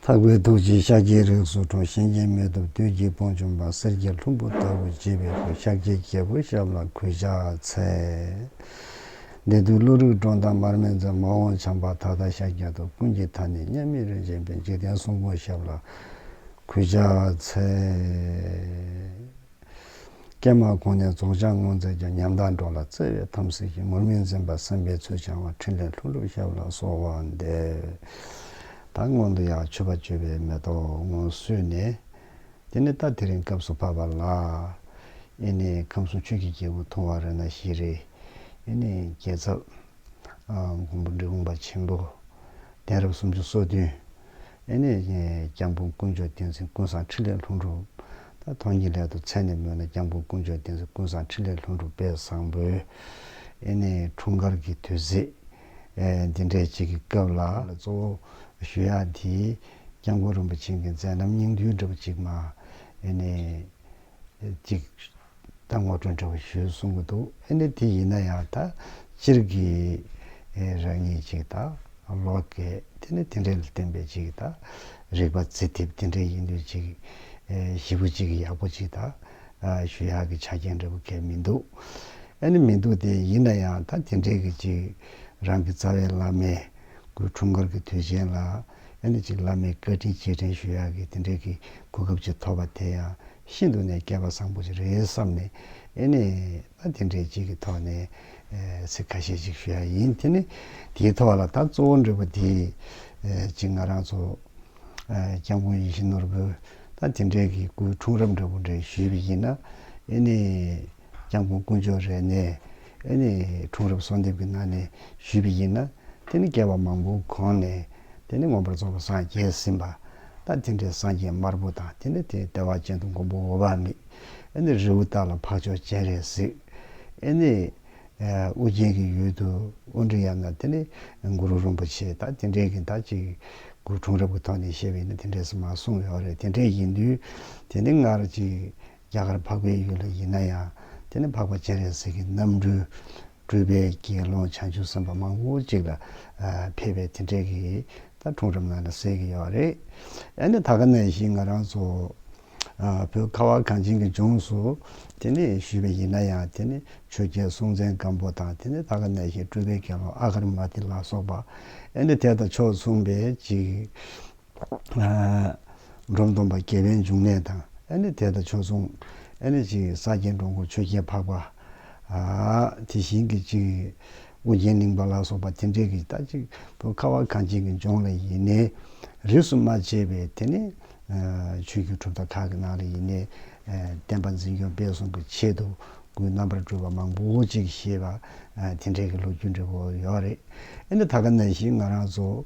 འཕགས་པའི་ཐུགས་ཀྱི་ཤཱཀྱའི་རིགས་སུ་གྲོ་བཞིན་གྱི་མེ་ཏོག་དུས་ཀྱི་བོང་ཆུང་པ་གསེར་གྱི་ལྷུན་པོ་ལྟ་བུ་བྱེད་པའི་སྐུ་ཤཱཀྱའི་རྒྱལ་པོ་ཞབས་ལ་གུས་ཕྱག་འཚལ། འདི་དུས་ཀླུ་རིགས་འབྲོང་དང་མར་མེ་མཛོད་མ་འོངས་བྱམས་པ་ད་ལྟ་ཤཱཀྱ་ཐུབ་ཀུན་གྱི་མཐའ་ནས་མཉམ་མེད་རིན་ཆེན་པའི་འཇིག་རྟེན་གསུང་སྐུ་ཞབས་ལ་གུས་ཕྱག་འཚལ། སྐྱེས་མ་གོང་ནས་རྫོགས་བྱང་སྔོན་ཚེ་རྒྱ་ཉམས་དག་འགྲོ་ལ་བརྩེ་བའི་དམ་སྲི་ཞིག་མུར་མི་འཛིན་པར་སེམས་པའི་ཚུལ་འཆང་བ་ཕྲིན་ལས་ལྷུན་གྲུབ་ཞབས་ལ་གསོལ་བ་འདེབས། ད་སྔོན་དུ་ཡང་མཆོད་པ་བཅོལ་བའི་མེ་ཏོག་སྔོན་བསུས་ནས། དེ་ནས་ད་དེ་རིང་སྐབས་སུ་བབ་པ་ལ། ཨེ་ནས་ཁམས་གསུམ་ཆོས་ཀྱི་རྒྱལ་པོ་མཐོང་བ་རེ་ན་བཞི་རེ། ཨེ་ནས་རྒྱལ་ཚབ། མགོན་པོ་འབྲི་གུང་པ་ཆེན་པོ། གདན་རབས་སུམ་ཅུ་སོ་བདུན། ཨེ་ནས་བཞིན། སྐྱབས་མགོན་དཀོན་མཆོག་བསྟན་འཛིན་ཀུན་བཟང་འཕྲིན་ལས་ལྷུན་གྲུབ། ད་ཐོག་ཉིད་སླད་དུ་མཚན་ནས་སྨོས་ན་སྐྱབས་མགོན་དཀོན་མཆོག་བསྟན་འཛིན་ཀུན་བཟང་འཕྲིན་ལས་ལྷུན་གྲུབ་དཔལ་བཟང་པོས། ཨེ་ནས་འཁྲུངས་སྐར་གྱི་དུས་ཚེས། འདི་འདྲའི་ཅིག་གི་སྐབས་ལ། ལ་གཙོ་བོ། ཞུ་ཡག་འདིས། སྐྱབས་མགོན་རིན་པོ་ཆེན་གྱི་མཛད་རྣམ་སྙིང་བསྡུས་འདྲ་བོ་ཅིག་མ། ཨེ་ནས། ཅིག། ད་ངོ་སྤྲོད་འཕྲོད་པོ་ཞུས་གསུང་གི་འདུག་ཨེ་ནི་དེ་ཡིན་ན་ཡང་ད་སྤྱིར་གྱི་རང་ཉིད་ཅིག་ད་ལོ་གས་དེ་ནི་དེ་འདྲའི་བསྟན་པའི་ཅིག་ད་རིག་པ་རྩི་ཐེབས་དེ་འདྲའི་ཡིན་དུས་ཅིག། ཞི་བོ་ཅིག་ཡག་པོ་ཅིག་ད་ཞུ་ཡག་གི་ཆ་རྐྱེན་འདྲ་པོ་གས་མི་འདུག་ཨེ་ནི་མི་འདུག་དེ་ཡིན་ན་ཡང་ད་དེ་འདྲའི་གི་ཅིག་རང་གི་རྩ་བའི་བླ་མའི་སྐུའི་འཁྲུངས་སྐར་གི་དུས་ཆེན་ལ། ཡང་ནི་གཅིག་བླ་མའི་བཀའ་དྲིན་རྗེས་དྲན་ཞུ་ཡག་གི་དེ་འདྲའི་གི་གོ་སྐབས་ཅིག་ཐོབ་པ་དེ་ཡང་ཤིན་ཏུ་ནས་སྐལ་པ་བཟང་པོ་ཅིག་རེད་བསམ་ནས་ཨེ་ནས་ད་དེ་འདྲའི་ཅིག་གི་ཐོག་ནས་ཚིག་ཁ་ཤས་ཅིག་ཞུ་ཡག་ཡིན་དེ་ནི་དེའི་ཐོག་ལ་ད་གཙོ་བོ་འབྲས་བུ་དེ་གཅིག་ང་རང་ཚོ་སྐྱབས་མགོན་ཡིད་བཞིན་ནོར་བུ་ད་དེ་འདྲའི་གི་སྐུའི་འཁྲུངས་རབས་འབྲས་བུ་འདྲ་ཞུས་པ་ཡིན་ན་ཨེ་ནས། སྤྱང་པོ་དཀོན་མཆོག་རེ་ནས་ཨེ་ནས་འཁྲུངས་རབས་གསོལ་འདེབས་ཀྱི་ནང་ནས་ཞུས་པ་ཡིན་ན། དེ་ནི་བསྐལ་བ་མང་པོའི་གོང་ནས་དེ་ནི་མངོན་པར་རྫོགས་པར་སངས་རྒྱས་ཟིན་པ། ད་དེ་འདྲའི་སངས་རྒྱས་དམར་པོ་དང་དེ་ནས་དེའི་ལྟེ་བ་ཅན་དུ་མགོན་པོ་འོ་བ་མི་ཨེ་ནས་རི་བོ་དག་ལ་འཕགས་མཆོག་སྤྱན་རས་གཟིགས་ཨེ་ནས། ཨོ་རྒྱན་གྱི་ཡུལ་དུ་དབོན་འབྲི་ཡང་ན་དེ་ནི་གུ་རུ་རིན་པོ་ཆེ་ད་དེ་འདྲས་ཀྱི་ད་ཅིག་གུ་འཁྲུངས་རབས་ཀྱི་ཐོག་ནས་བཤད་པ་ཡིན་ན་དེ་འདྲས་སུ་མ་གསུངས་ཡོད་རེད་དེ་འདྲས་ཡིན་དུས་དེ་ནི་སྔར་གྱི། རྒྱ་གར་འཕགས་པའི་ཡུལ་ལ་ཡིན་ན་ཡང་དེ་ནི་འཕགས་པ་སྤྱན་རས་གཟིགས་ཀྱི་རྣམ་སྤྲུལ། སྤྲུལ་པའི་དགེ་སློང་བྱང་ཆུབ་སེམས་དཔའ་མང་པོ་ཅིག་ལ་ཕེབས་པས་དེ་འདྲས་ཀྱི་ད་འཁྲུངས་རབས་ནང་ན་གསལ་གྱི་ཡོད་རེད། ཡང་ན་ད་ག་ནས་བཞིན་ང་རང་ཚོ་བོད་ཁ་བ་གངས་ཅན་གྱི་ལྗོངས་སུ་དེ་ནི་ཞུས་པའི་ཡིན་ན་ཡང་དེ་ནི་ཆོས་རྒྱལ་སྲོང་བཙན་སྒམ་པོ་དང་དེ་ནི་ད་ག་ནས་བཞིན་སྤྲུལ་པའི་དགེ་སློང་ཨ་གར་མ་ཏི་ལ་སོགས་པ་ཡང་ནི་དེ་དང་ཕྱོགས་མཚུངས་པའི་ཅིག། འབྲོམ་སྟོང་པ་རྒྱལ་བའི་འབྱུང་གནས་དང། ཨེ་ནི་དེ་དང་ཆོས་མཚུངས། ཨེ་ནི་ཅིག་ས་སྐྱའི་འགྲོ་མགོན་ཆོས་རྒྱལ་འཕགས་པ། དེ་བཞིན་གྱི་ཅིག། ཨོ་རྒྱན་གླིང་པ་ལ་སོགས་པ་དེ་འདྲས་ཀྱི་རྟགས་གཅིག་པུ་ཁ་བ་གངས་ཅན་གྱི་ལྗོངས་ལ་ཡིན་ནས། རིས་སུ་མ་ཆད་པའི་དེ་ནི། ཆོས་རྒྱུད་གྲུབ་མཐའ་ཁག་གི་ནང་ལ་ཡིན་ནས། བསྟན་པ་འཛིན་སྐྱོང་སྤེལ་གསུམ་གྱི་ཆེད་དུ་སྐུའི་རྣམ་པར་སྤྲུལ་པ་མང་པོ་ཅིག་ཞེས་པ། དེ་འདྲས་ཀྱི་ལོ་རྒྱུས་འབྲི་བོ་ཡོད་རེད། ཨེ་ནི་ད་ག་ན་ཞིག་ང་རང་ཚོ།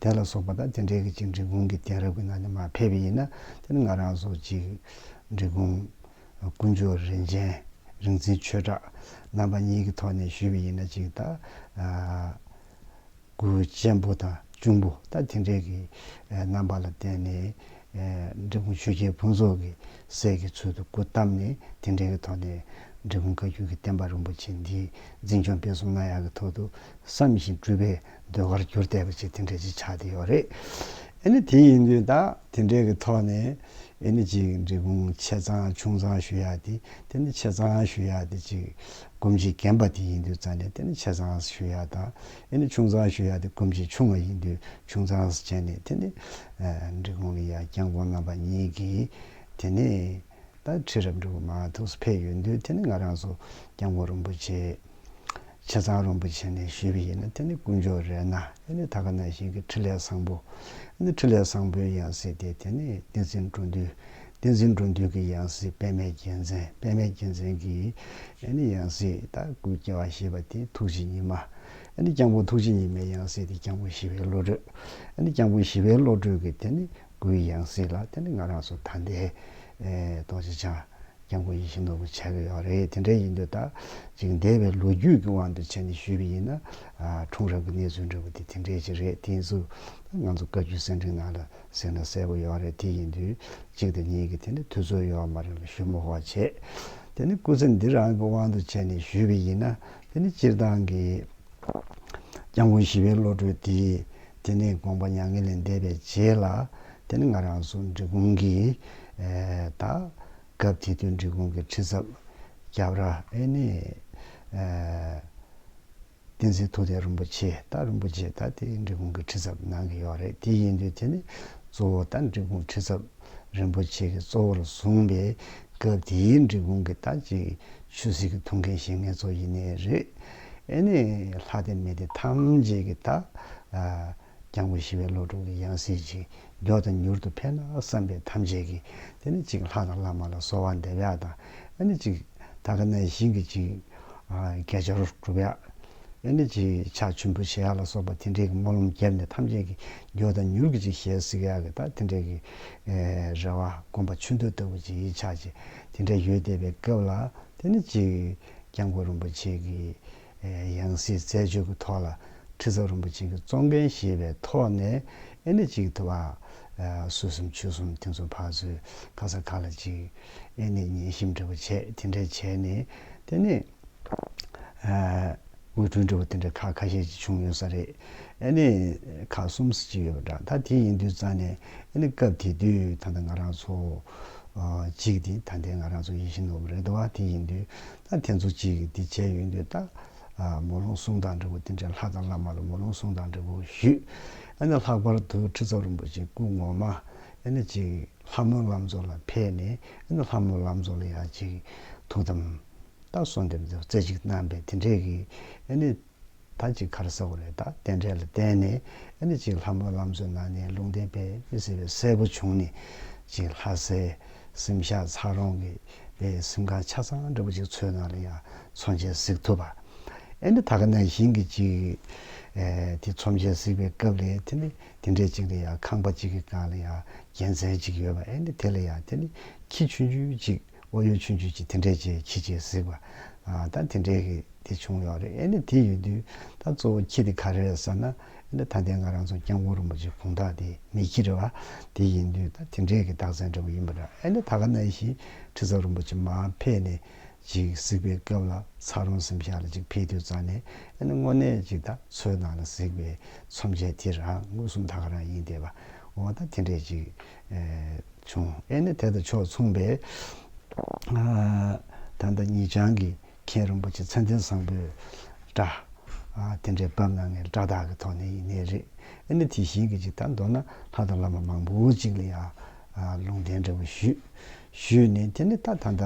དེ་ལ་སོགས་པ་དང་དེ་འདྲའི་གཅིག་འབྲི་གུང་གི་དེང་རབས་ཀྱི་ནང་ནས་མ་ཕེབས་པ་ཡིན་ན་དེ་ནི་ང་རང་སོགས་གཅིག་འབྲི་གུང། དཀོན་མཆོག་རིན་ཆེན་རིག་འཛིན་ཆོས་གྲགས་རྣམ་པ་གཉིས་ཀྱི་ཐོག་ནས་ཞུས་པ་ཡིན་ན་གཅིག་ལྟ་སྐུ་གཅེན་པོ་དང་གཅུང་པོ་ལྟ་དེ་འདྲའི་གི་རྣམ་པ་ལ་བརྟེན་ནས་འབྲི་གུང་ཆོས་རྒྱལ་ཕུན་ཚོགས་ཀྱི་སྲས་ཀྱི་ཚུལ་དུ་སྐུ་བལྟམས་ནས་དེ་འདྲའི་གི་ཐོག་ནས་འབྲི་གུང་བཀའ་བརྒྱུད་ཀྱི་བསྟན་པ་རིན་པོ་ཆེ་འདི་འཛིན་སྐྱོང་སྤེལ་གསུམ་གནང་ཡག་གི་ཐོག་ཏུ་བསམ་བཞིན་སྤྲུལ་པའི་འདོད་པར་གྱུར་བལྟས་པ་ཅིག་དེ་འདྲས་ཅིག་ཆགས་ཏེ་ཡོད་རེད། ཨེ་ནི་དེ་ཡིན་དུས་ད་དེ་འདྲས་ཀྱི་ཐོག་ནས་ཨེ་ནི་ཅིག་འབྲི་གུང་ཆེ་ཚང་ཆུང་ཚང་ཞུ་ཡག་དེ་དེ་ནི་ཆེ་ཚང་ཞུ་ཡག་དེ་ཅིག་སྒོམ་ཆེ་རྒན་པ་དེ་ཡིན་དུས་རྩ་ནས་དེ་ནི་ཆེ་ཚང་ཞུ་ཡག་དང་ཨེ་ནི་ཆུང་ཚང་ཞུ་ཡག་དེ་སྒོམ་ཆེ་ཆུང་བ་ཡིན་དུས་ཆུང་ཚང་བྱས་ནས་དེ་ནི་འབྲི་གུང་གི་ཡ་རྐྱང་དགོན་རྣམ་པ་གཉིས་ཀྱི་དེ་ནི་ད་ཁྲི་རབས་འབྲི་གུང་མ་ཐུགས་སུ་ཕེབས་ཡོད་དུས་དེ་ནི་ང་རང་སུ་རྐྱང་དགོན་རིན་པོ་ཆེ། བྱས་ཙང་རིན་པོ་ཆེ་ནས་ཞུས་པ་ཡིན་ན་དེ་ནི་དཀོན་མཆོག་རེད་ན་དེ་ནི་ད་ག་ན་བཞིན་གྱི་ཁྲི་ལས་བཟང་པོ་ནི་ཁྲི་ལས་བཟང་པོའི་ཡང་སྲིད་དེ་དེ་ནི་བསྟན་འཛིན་འགྲོ་འདུལ་བསྟན་འཛིན་འགྲོ་འདུལ་གྱི་ཡང་སྲིད་པད་མའི་རྒྱལ་མཚན་པད་མའི་རྒྱལ་མཚན་གྱི་ནི་ཡང་སྲིད་ད་སྐུ་སྐྱེ་བ་ཞེས་པ་དེ་ཐུགས་རྗེ་ཉི་མ་ནི་སྐྱང་པོ་ཐུགས་རྗེ་ཉི་མའི་ཡང་སྲིད་དེ་སྐྱང་པོ་ཞི་བའི་བློ་གྲོས་ནི་སྐྱང་པོ་ཞི་བའི་བློ་གྲོས་ཀྱི་དེ་ནི་སྐུའི་ཡང་སྲིད་ལ་དེ་ནི་ང་རང་སོ་ཐ་འདས་རྡོ་རྗེ་འཆང། རྒྱང་གོ་ཡིད་བཞིན་ནོར་བུ་ཆགས་ཀྱི་ཡོད་རེད་དེ་འདྲ་ཡིན་དུས་ད་ཅིག་འདས་པའི་ལོ་རྒྱུས་ཀྱི་དབང་དུ་བྱས་ནས་ཞུས་པ་ཡིན་ན། འཁྲུངས་རབས་ཀྱི་གནས་ཚུལ་འདྲ་བོ་དེ་དེ་འདྲས་ཅིག་རེད་དེ་ཚོ་ང་ཚོ་བཀའ་བརྒྱུད་གསན་འཕྲིན་ནང་ལ་གསན་ན་གསལ་པོ་ཡོད་རེད་དེ་ཡིན་དུས་གཅིག་དང་གཉིས་ཀྱི་དེ་འདྲ་ཐུགས་ཚོར་ཡོད་མ་རེད་ལ་ཞུ་མོ་ཧོ་བྱས། དེ་ནི་སྐུ་ཚེ་འདི་རང་གི་དབང་དུ་བྱས་ནས་ཞུས་པ་ཡིན་ན་དེ་ནི་སྤྱིར་བཏང་གི་རྒྱང་གོ་ཞི་བའི་བློ་གྲོས་དེས་དེ་ནས་དགོངས་པ་མྱ་ངན་ལས་འདས་པའི་རྗེས་ལ་དེ་ནི་ང་རང་སུ་འབྲི་གུང་གི་ད། སྐབས་དེ་དུས་འབྲི་གུང་གི་ཁྲི་ཚབ་སྐྱབས་ར་ཨེ་ནི། བསྟན་འཛིན་ཐུགས་རྟེན་རིན་པོ་ཆེ་ད་རིན་པོ་ཆེ་ད་དེ་འབྲི་གུང་གི་ཁྲི་ཚབ་གནང་གི་ཡོད་རེད་དེ་ཡིན་དུས་དེ་ནི་གཙོ་བོ་ད་འབྲི་གུང་ཁྲི་ཚབ་རིན་པོ་ཆེ་གི་གཙོ་བོར་བཟུང་པའི་སྐབས་དེའི་འབྲི་གུང་གི་ད་ཅིག་ཆོས་སྲིད་ཀྱི་ཐུགས་འགན་བཞེས་ངེས་ཚོ་ཡིན་ནི་རེད། ཨེ་ནི་ལྷ་སྟེ་མི་སྟེ་ཐམས་ཅད་ཀྱི་ད། རྒྱང་བུ་བཞི་པའི་བློ་དྲུག་གི་ཡང་སྲིད་ཅིག་མགྱོགས་དང་མྱུར་དུ་འཕེལ་ན་བསམ་པས་ཐམས་ཅད་ཀྱི། དེ་ནི་ཅིག་ལྷ་དང་བླ་མ་ལ་གསོལ་བ་འདེབས་ཡག་དང། ཨེ་ནི་ཅིག། ད་ག་ནའི་ཞིང་གི་ཅིག། གས་སྦྱར་བསྒྲུབ་ཡག། ཨེ་ནི་ཅིག་ཕྱག་ཆུན་པོ་བྱེད་ཡག་ལ་སོགས་པ་དེ་འདྲས་ཀྱི་སྨོན་ལམ་བརྒྱབ་ནས་ཐམས་ཅད་ཀྱི་མགྱོགས་དང་མྱུར་གྱི་ཅིག་ཞལ་གཟིགས་ཡག་གི་དང་དེ་འདྲས་ཀྱི། རེ་བ་སྒོམ་པ་ཆུ་འདོད་ལྟ་བུ་ཅིག་ཡིད་ཆགས་ཅིག་དེ་འདྲས་ཡོད་བསྡད་པའི་སྐབས་ལ་དེ་ནི་ཅིག། རྒྱང་བུ་རིན་པོ་ཆེ་གི། ཡང་སྲིད་རྩད་གཅོད་ཀྱི་ཐོག་ལ་ཁྲི་ཚབ་རིན་པོ་ཆེ་གི་གཙོ་འགན་བཞེས་པའི་ཐོག་ནས་ཨེ་ནི་གཅིག་ཐུབ་ཨ། སུ་གསུམ་ཆོས་གསུམ་དེ་ཚོ་ཕར་ཚུར་ཁ་ས་ཁ་ལ་གཅིག། ཨེ་ནི་ཉན་ཞིབ་འབྲེལ་པོ་བྱས་དེ་འདྲས་བྱས་ནས་དེ་ནས། དབུས་གྲོས་འབྲེལ་པོ་དེ་འདྲས་ཁག་ཁ་ཤས་ཀྱི་བྱུང་ཡོད་ས་རེད། ཨེ་ནི་ཁག་གསུམ་སུ་གཅིག་ཡོད་པ་འདྲ་ད་དེ་ཡིན་དུས་རྩ་ནས་ཨེ་ནི་སྐབས་དེ་དུས་ད་ལྟ་ང་རང་ཚོ། གཅིག་དེ་ད་ལྟའི་ང་རང་ཚོ་ཡིད་བཞིན་ནོར་བུ་རེད་དོ་ཨ་དེ་ཡིན་དུས། ད་ཐེངས་ཚོ་གཅིག་གིས་འདི་བྱས་ཡོད་འདོད་ད། མོ་ལུང་གསུང་དང་འབྲས་བུ་དེ་འདྲའི་ལྷ་དང་བླ་མ་ལ་མོ་ལུང་གསུང་དང་འབྲས་བུ་ཞུས། ཨ་ནི་ལྷག་པར་དུ་ཁྲི་ཚོགས་རིན་པོ་ཆེ་སྐུ་ངོ་མ། ཨེ་ནི་ཅིག། ལྷ་མོའི་ལམ་གཙོ་ལ་ཕེབས་ནས་ཨེ་ནི་ལྷ་མོའི་ལམ་གཙོ་ལ་ཡང་ཅིག། ཐུགས་དམ། ད་གསོལ་འདེབས་མཛད་རྩེ་གཅིག་གནང་པས་དེ་འདྲས་ཀྱིས། ཨེ་ནི། ད་གཅིག་མཁར་གསར་བ་ལས་དང་རྟེན་འབྲེལ་ལ་བརྟེན་ནས་ཨ་ནི་གཅིག་ལྷ་མོའི་ལམ་བཟོས་གནང་ནས་ལུང་བསྟན་པས་མི་ཟེར་བའི་སྲས་པོ་བྱུང་ནས་གཅིག་ལྷ་སའི་སེམས་ཤག་ཚག་རོང་གི་པའི་སེམས་ཁང་ཆ་ཚང་འདྲ་པོ་གཅིག་འཚོལ་གནང་ལ་ཡང་ཚོམས་ཆེན་གཟིགས་ཐུབ། ཨ་ནི་ད་ག་ནང་བཞིན་གྱི་གཅིག་དེ་ཚོམས་ཆེན་གཟིགས་པའི་སྐབས་ལས་དེ་ནི་དེ་འདྲའི་གཅིག་ལ་ཡང་ཁང་པ་གཅིག་གི་སྒང་ལ་ཡང་རྒྱལ་མཚན་གཅིག་ཡོད་པ་ཨ་ནི་དེ་ལ་ཡང་དེ་ནི་ཁྱི་ཆུན་ཆུན་གཅིག་ཨོ་ཡོད་ཆུང་ཆུང་གཅིག་དེ་འདྲས་ཀྱི་ཁྱི་གཅིག་གཟིགས་པ། ད་དེ་འདྲས་ཀྱི་དེ་བྱུང་ཡོད་རེད་ཨེ་ནི་དེ་ཡོད་དུས་ད་གཙོ་བོ་ཁྱི་དེ་ག་རེ་རེད་ཟེར་ན། ཨེ་ནི་ད་ལྟའི་ང་རང་ཚོ་སྐྱབས་མགོན་རིན་པོ་ཆེ་གུང་ཐག་དེ་མི་ཁྱི་རེད་བ། དེ་ཡིན་དུས་ད་དེ་འདྲས་ཀྱི་རྟགས་མཚན་འདྲ་བོ་ཡིན་པ་འདྲ་ཨེ་ནི་ད་ག་ནས་ཞིག་ཁྲི་ཟབ་རིན་པོ་ཆེ་མ་ཕེབས་ནས་ཅིག་གཟིགས་པའི་སྐབས་ལ་ཚ་རོང་གཟིམ་ཤག་ལ་ཅིག་ཕེབས་དུས་རྩ་ནས་ཨེ་ནི་དངོས་གནས་ཀྱི་ད་ཚོའི་ནང་ལ་གཟིགས་པའི་ཚོམས་ཆེན་དེ་རང་ངོས་གསུམ་ད་ག་རང་ཡིན་བསྡད་པ་འོ་ད་དེ་འདྲས་ཀྱི། བྱུང། ཨེ་ནི་དེ་དང་ཕྱོགས་མཚུངས་པས། ད་ལྟ་ཉིད་བྱང་གི་མཁན་རིན་པོ་ཆེ་མཚན་ལྡན་བཟང་པོས་སྒྲ། དེ་འདྲའི་བབས་གནང་ངེས་སྒྲ་དག་གི་ཐོག་ནས་ཡིན་ནི་རེད། ཨེ་ནི་དེ་བཞིན་གྱི་ཅིག་ད་མདོར་ན་ལྷ་དང་བླ་མ་མང་པོ་ཅིག་ལ་ཡང། ལུང་བསྟན་འདྲ་བོ་ཞུས། ཞུས་ནས་དེ་ནི་ད་ད་ལྟ་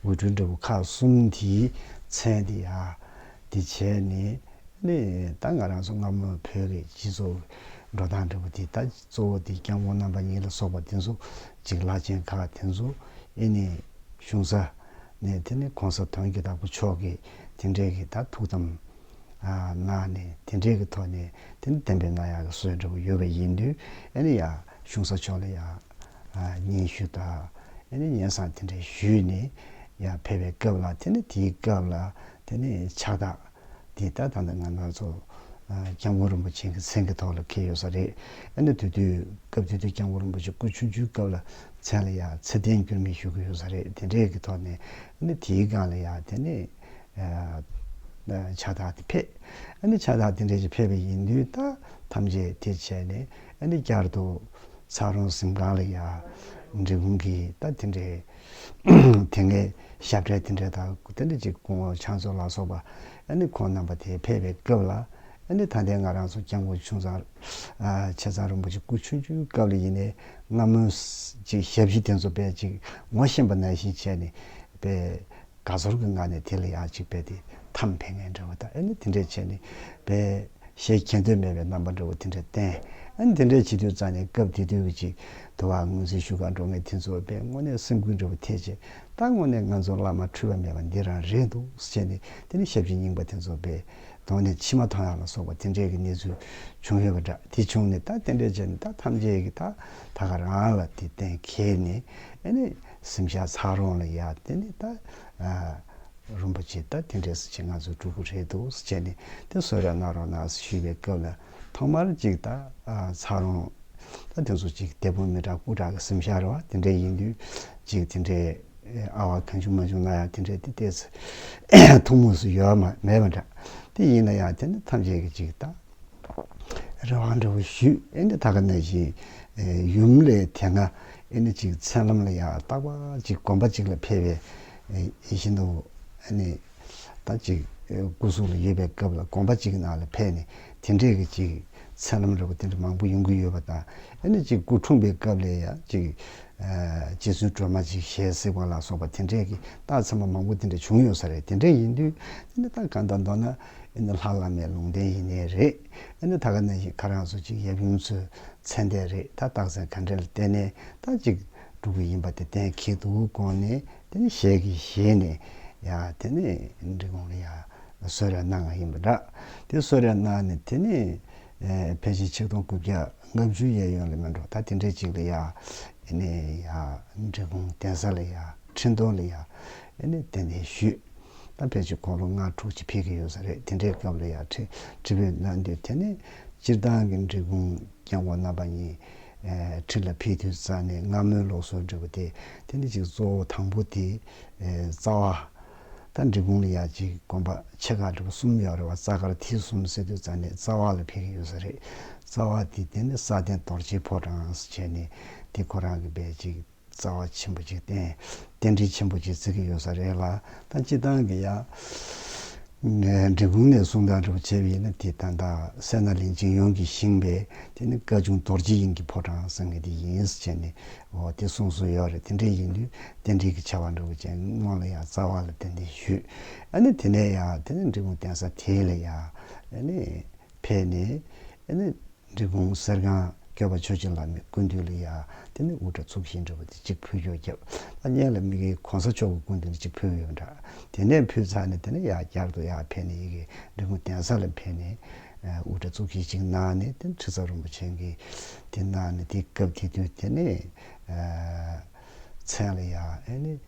འོད་སྤྲུལ་འདྲ་བོ་ཁག་གསུམ་དེས་མཚན་ཏེ། དེ་བྱས་ནས། ཨེ་ནི་ད་ང་རང་ཚོ་སྔ་མོ་བོད་ཀྱི་སྤྱི་ཚོགས་འགྲོ་སྟངས་འདྲ་བོ་དེ་ད། གཙོ་བོ་དེ་སྐྱབས་མགོན་རྣམ་པ་གཉིས་ལ་སོགས་པ་དེ་ཚོ་འཇིགས་ལག་ཅན་དག་དེ་ཚོ་ཨེ་ནས་བྱུང་ས། ནས་དེ་ནི་གོང་ས་དོན་གྱི་བདག་པོ་མཆོག་གིས་དེ་འདྲས་ཀྱི་ད་ཐུག་དམ། ན་ནས་དེ་འདྲས་ཀྱི་ཐོག་ནས་དེ་ནི་བདེན་པའི་ན་ཡག་གི་སྲོལ་འདྲ་པོ་ཡོད་པ་ཡིན་དུས་ཨེ་ནས་ཡང་གཞུང་ས་མཆོག་ལ་ཡང་སྙན་ཞུ་དང་ཨེ་ནས་སྙན་བཟང་དེ་འདྲས་ཞུས་ནས་ཡང་ཕེབས་པའི་སྐབས་ལ་དེ་ནི་དེའི་སྐབས་ལ་དེ་ནི་ཕྱག་རྟགས། འདི་ལྟར་ད་ལྟ་ང་སྣ་ཚོགས་སྐྱབས་མགོན་རིན་པོ་ཆེན་གྱི་མཚན་གྱི་ཐོག་ལ་འཁེལ་ཡོད་ས་རེད། ཨ་ནི་དེ་དུས་སྐབས་དེ་དུས་སྐྱབས་མགོན་རིན་པོ་ཆེ་སྐུ་ཆུང་ཆུང་སྐབས་ལ་མཚན་ལ་ཡང་ཚེ་བརྟན་འགྱུར་མེད་ཞུ་གི་ཡོད་ས་རེད་དེ་འདྲའི་གི་ཐོག་ནས་ཨ་ནི་དེའི་སྒང་ལ་ཡང་དེ་ནས་ཕྱག་རྟགས་དེ་ཕེབས། ཨ་ནི་ཕྱག་རྟགས་དེ་འདྲའི་ཞིག་ཕེབས་པ་ཡིན་དུས་ད་ཐམས་ཅད་དེ་བྱས་ནས་ཨ་ནི་བསྐྱར་དུ་ཚ་རོང་གཟིམ་ཁང་ལ་ཡང་འབྲི་གུང་གིས་ད་དེ་འདྲའི། དེ་སྔའི་ཞབས་གྲས་དེ་འདྲས་དང་དེ་འདྲས་ཅིག་སྐུ་ངོ་ཆང་བཙོ་ལ་སོགས་པ་ཨ་ནི་ཁོང་རྣམ་པ་དེ་ཕེབས་པའི་སྐབས་ལ་ཨ་ནི་ད་ལྟའི་ང་རང་ཚོ་སྐྱབས་མགོན་ཆུང་ཚང་ཆེ་ཚང་རིན་པོ་ཆེ་སྐུ་ཆུང་ཆུང་སྐབས་ལ་ཡིན་ནས་སྔ་མོ་ཅིག་ཞབས་ཕྱི་དེ་ཚོ་པས་ཅིག་ངོ་ཤེས་པ་ནང་བཞིན་བྱས་ནས་པས། དགའ་ཚོར་གྱི་ངང་ནས་དེ་ལ་ཡང་ཅིག་འབད་དེ་ཐམ་འཕེན་ངེས་འདྲ་བོ་དང་ཨེ་ནི་དེ་འདྲས་བྱས་ནས་འབད། ཞེས་མཁྱེན་འདོད་མེད་པའི་རྣམ་པ་འདྲ་བོ་དེ་འདྲས་བསྟན། ཨ་ནི་དེ་འདྲས་བྱེད་དུས་རྩ་ནས་སྐབས་དེ་དུས་ཀྱི་ཅིག་དུ་བ་ངོས་འཛིན་ཞུ་གང་འགྲོ་ངེས་དེ་ཚོ་འབད་སྔོན་ནས་སེམས་ཁུར་འདྲ་བོ་ཐེག་ཆེད་ད་སྔོན་ནས་ང་ཚོ་བླ་མ་འཁྲུལ་པ་མེད་པ་འདི་རང་རེད་འདུག་བྱས་ནས་དེ་ནི་ཞབས་ཕྱི་རྙིང་པ་དེ་ཚོ་འབད། དོགས་ནས་ཕྱི་མ་ཐང་ཡང་ལ་སོགས་པ་དེ་འདྲས་ཀྱི་གནས་ཚུལ་བྱུང་ཡོད་པ་འདྲ་དེ་བྱུང་ནས་ད་དེ་འདྲས་བྱས་ནས་ད་ཐམས་ཅད་ཀྱི་ད་ད་ག་རང་ལ་དེ་བསྟན་ཁེལ་ནས་ཨེ་ནི། སེམས་ཤ་ཚ་རུང་ལ་ཡ་དེ་ནི་ད་རིན་པོ་ཆེ་ད་དེ་འདྲའི་སུ་བྱེད་ང་ཚོ་སྤྲུལ་སྐུ་རེད་འདུག་སུ་བྱེད་ནི་དེ་བཟོ་རེ་གནང་རོགས་གནང་ཞུས་པའི་སྐབས་ལ་ཐོག་མར་གཅིག་ད་ཚ་རུང་ད་དེ་ཚོ་གཅིག་དད་པོ་མི་དྲག་སྐུ་དྲག་གི་སེམས་ཤ་རེ་བ་དེ་འདྲའི་ཡིན་དུས་གཅིག་དེ་འདྲའི་ཨ་བ་གང་བྱུང་མ་བྱུང་ན་ཡང་དེ་འདྲའི་དེ་ལྟའི་ཐུགས་མུས་སུ་ཡོད་མ་མེད་མ་འདྲ་དེ་ཡིན་ན་ཡང་དེ་ནི་ཐམས་ཅད་ཀྱི་གཅིག་ད། རེ་བ་འདྲ་བོ་ཞུས་ཨེ་ནི་ད་ག་ནས་ཞིག་ཡུམ་ལས་དེ་སྔ་ཨེ་ནི་ཅིག་མཚན་ལམ་ལ་ཡང་བརྟག་པ་ཅིག་སྒོམ་པ་ཅིག་ལ་ཕེབས་པའི་ཡིད་བཞིན་དུ་ཨེ་ནི་ད་ཅིག་སྐུ་གཟུགས་ལ་ཡོད་པའི་སྐབས་ལ་སྒོམ་པ་ཅིག་ནང་ལ་ཕེབས་ནས་དེ་འདྲས་ཀྱི་ཅིག་མཚན་ལམ་རེ་བ་དེ་འདྲ་མང་པོ་ཡོང་གི་ཡོད་པ་དང་ཨེ་ནི་ཅིག་སྐུ་འཁྲུངས་པའི་སྐབས་ལས་ཡང་ཅིག་རྗེ་བཙུན་སྒྲོལ་མ་ཅིག་ཞལ་གཟིགས་པ་ལ་སོགས་པ་དེ་འདྲས་ཀྱི་རྟགས་ཚང་མ་མང་པོ་དེ་འདྲ་བྱུང་ཡོད་ས་རེད་དེ་འདྲས་ཡིན་དུས་ཨེ་ནི་ད་ག་ད་མདོར་ན་ཨེ་འདི་ལྷ་བླ་མའི་ལུང་བསྟན་ཡིན་ནི་རེད། ཨེ་འདི་ད་ག་ནས་ཤིག་ཁ་རང་སོ་ཅིག་ཡབ་ཡུམ་ཚོས་མཚན་ལྟས་རེད་ད་རྟགས་མཚན་ག་འདྲས་ལ་བལྟས་ནས་ད་ཅིག་འགྲོ་གི་ཡིན་པ་དེ་གཏན་འཁེལ་འདུག་དགོངས་ནས་དེ་ནི་ཞལ་གྱིས་བཞེས་ནས་ཡ་དེ་ནི་འབྲི་གུང་ལ་ཡ་གསོལ་རས་གནང་བ་ཡིན་པ་འདྲ། དེ་གསོལ་རས་གནང་ནས་དེ་ནི་ཕལ་ཆེར་ཆིག་སྟོང་དགུ་བརྒྱ་ལྔ་བཅུའི་གཡས་གཡོན་ལས་མི་འགྲོ་ད་དེ་འདྲས་ཅིག་ལ་ཡ་ཨེ་ནི་ཡ་འབྲི་གུང་གདན་ས་ལ་ཡ་ཁྲི་འདོན་ལ་ཡ། ཨེ་ནས་དེ་ནས་བཞུད། ད་ཕལ་ཆེར་འཁོར་ལོ་ལྔ་དྲུག་ཅིག་ཕེབས་ཀྱི་ཡོད་ས་རེད་དེ་འདྲའི་སྐབས་ལ་ཡང་ཁྲི་ཁྲི་བོས་གནང་དུས་དེ་ནས་སྤྱིར་བཏང་གི་འབྲི་གུང་རྐྱང་བ་རྣམ་པ་གཉིས་ཁྲི་ལ་ཕེབས་དུས་རྩ་ནས་སྔ་མོའི་ལོག་སྲོལ་འབྲི་བ་དེ་དེ་ནས་གཅིག་གཙོ་བོ་དང་པོ་དེ་རྩ་བ། ད་འབྲི་གུང་ལ་ཡང་གཅིག་དགོན་པ་ཆེ་ཁག་འབྲི་བ་གསུམ་ཡོད་རེད་བ་རྩ་ཁར་ཐིག་གསུམ་སེ་དུས་རྩ་ནས་རྩ་བ་ལ་ཕེབས་ཀྱི་ཡོད་ས་རེད་རྩ་བ་དེ་དེ་ནས་ས་སྟེང་རྡོར་ཆེན་ཕོ་བྲང་བྱས་ནས་དེ་ཁོ་རང་གི་བས་གཅིག། རྩ་བ་ཆེན་པོ་གཅིག་བསྟན། རྟེན་འབྲེལ་ཆེན་པོ་གཅིག་བརྩི་གི་ཡོད་ས་རེད་ལ། ད་སྤྱི་བཏང་གི་ཡ། འབྲི་གུང་ནས་གསུང་དང་འབྲི་བོ་ཆེ་བས་ཡིན་ན་དེ་ད་ད་སད་ན་ལིན་ཅིན་ཡོན་གྱི་ཤིང་བས་དེ་ནི་བཀའ་བྱུང་དོར་སྤྱི་ཡིན་གྱི་ཕོ་བྲང་གསང་གི་དེ་ཡིན་ཟེར་ནས་འོ་དེ་གསུང་སྲོལ་ཡོད་རེད་དེ་འདྲས་ཡིན་དུས་རྟེན་འབྲེལ་གྱི་ཆ་བ་འབྲི་བོ་ཆེ་སྔོན་ལ་ཡ་རྩ་བ་ལ་དེ་འདི་ཞུས། ཨ་ནི་དེ་ནས་ཡ་དེ་ནས་འབྲི་གུང་བསྟན་ས་དེ་ལས་ཡ་ཨ་ནི་ཕེབས་ནས་ཨ་ནི། འབྲས་སྤུངས་གསེར་སྒང་སྐལ་པ་ཆོས་རྗེ་ལགས་ནི་ཀུན་འདུས་ལ་ཡ། དེ་ནས་དབུ་སྐྲ་ཚུགས་བཞིན་འདྲ་བ་དེ་གཅིག་ཕུལ་ཀྱོག་བརྒྱབ། ལ་བརྙན་ལ་མི་དགེ་གོང་ས་མཆོག་གི་ཀུན་འདུས་ནི་གཅིག་ཕུལ་ཡོད་འདྲ། དེ་ནས་ཕུལ་ཚར་ནས་དེ་ནས་ཡར་བསྐྱར་དུ་ཡར་ཕེབས་ནས་ཡི་གེ་འབྲི་གུང་གདན་ས་ལ་ཕེབས་ནས། དབུ་སྐྲ་ཚུགས་བཞི་ཅིག་གནང་ནས་དེ་ནས་ཁྲི་ཟ་རིན་པོ་ཆེ་གི་དེ་གནང་ནས་དེ་སྐབས་དེ་དུས་དེ་ནས། མཚན་ལ་ཡ།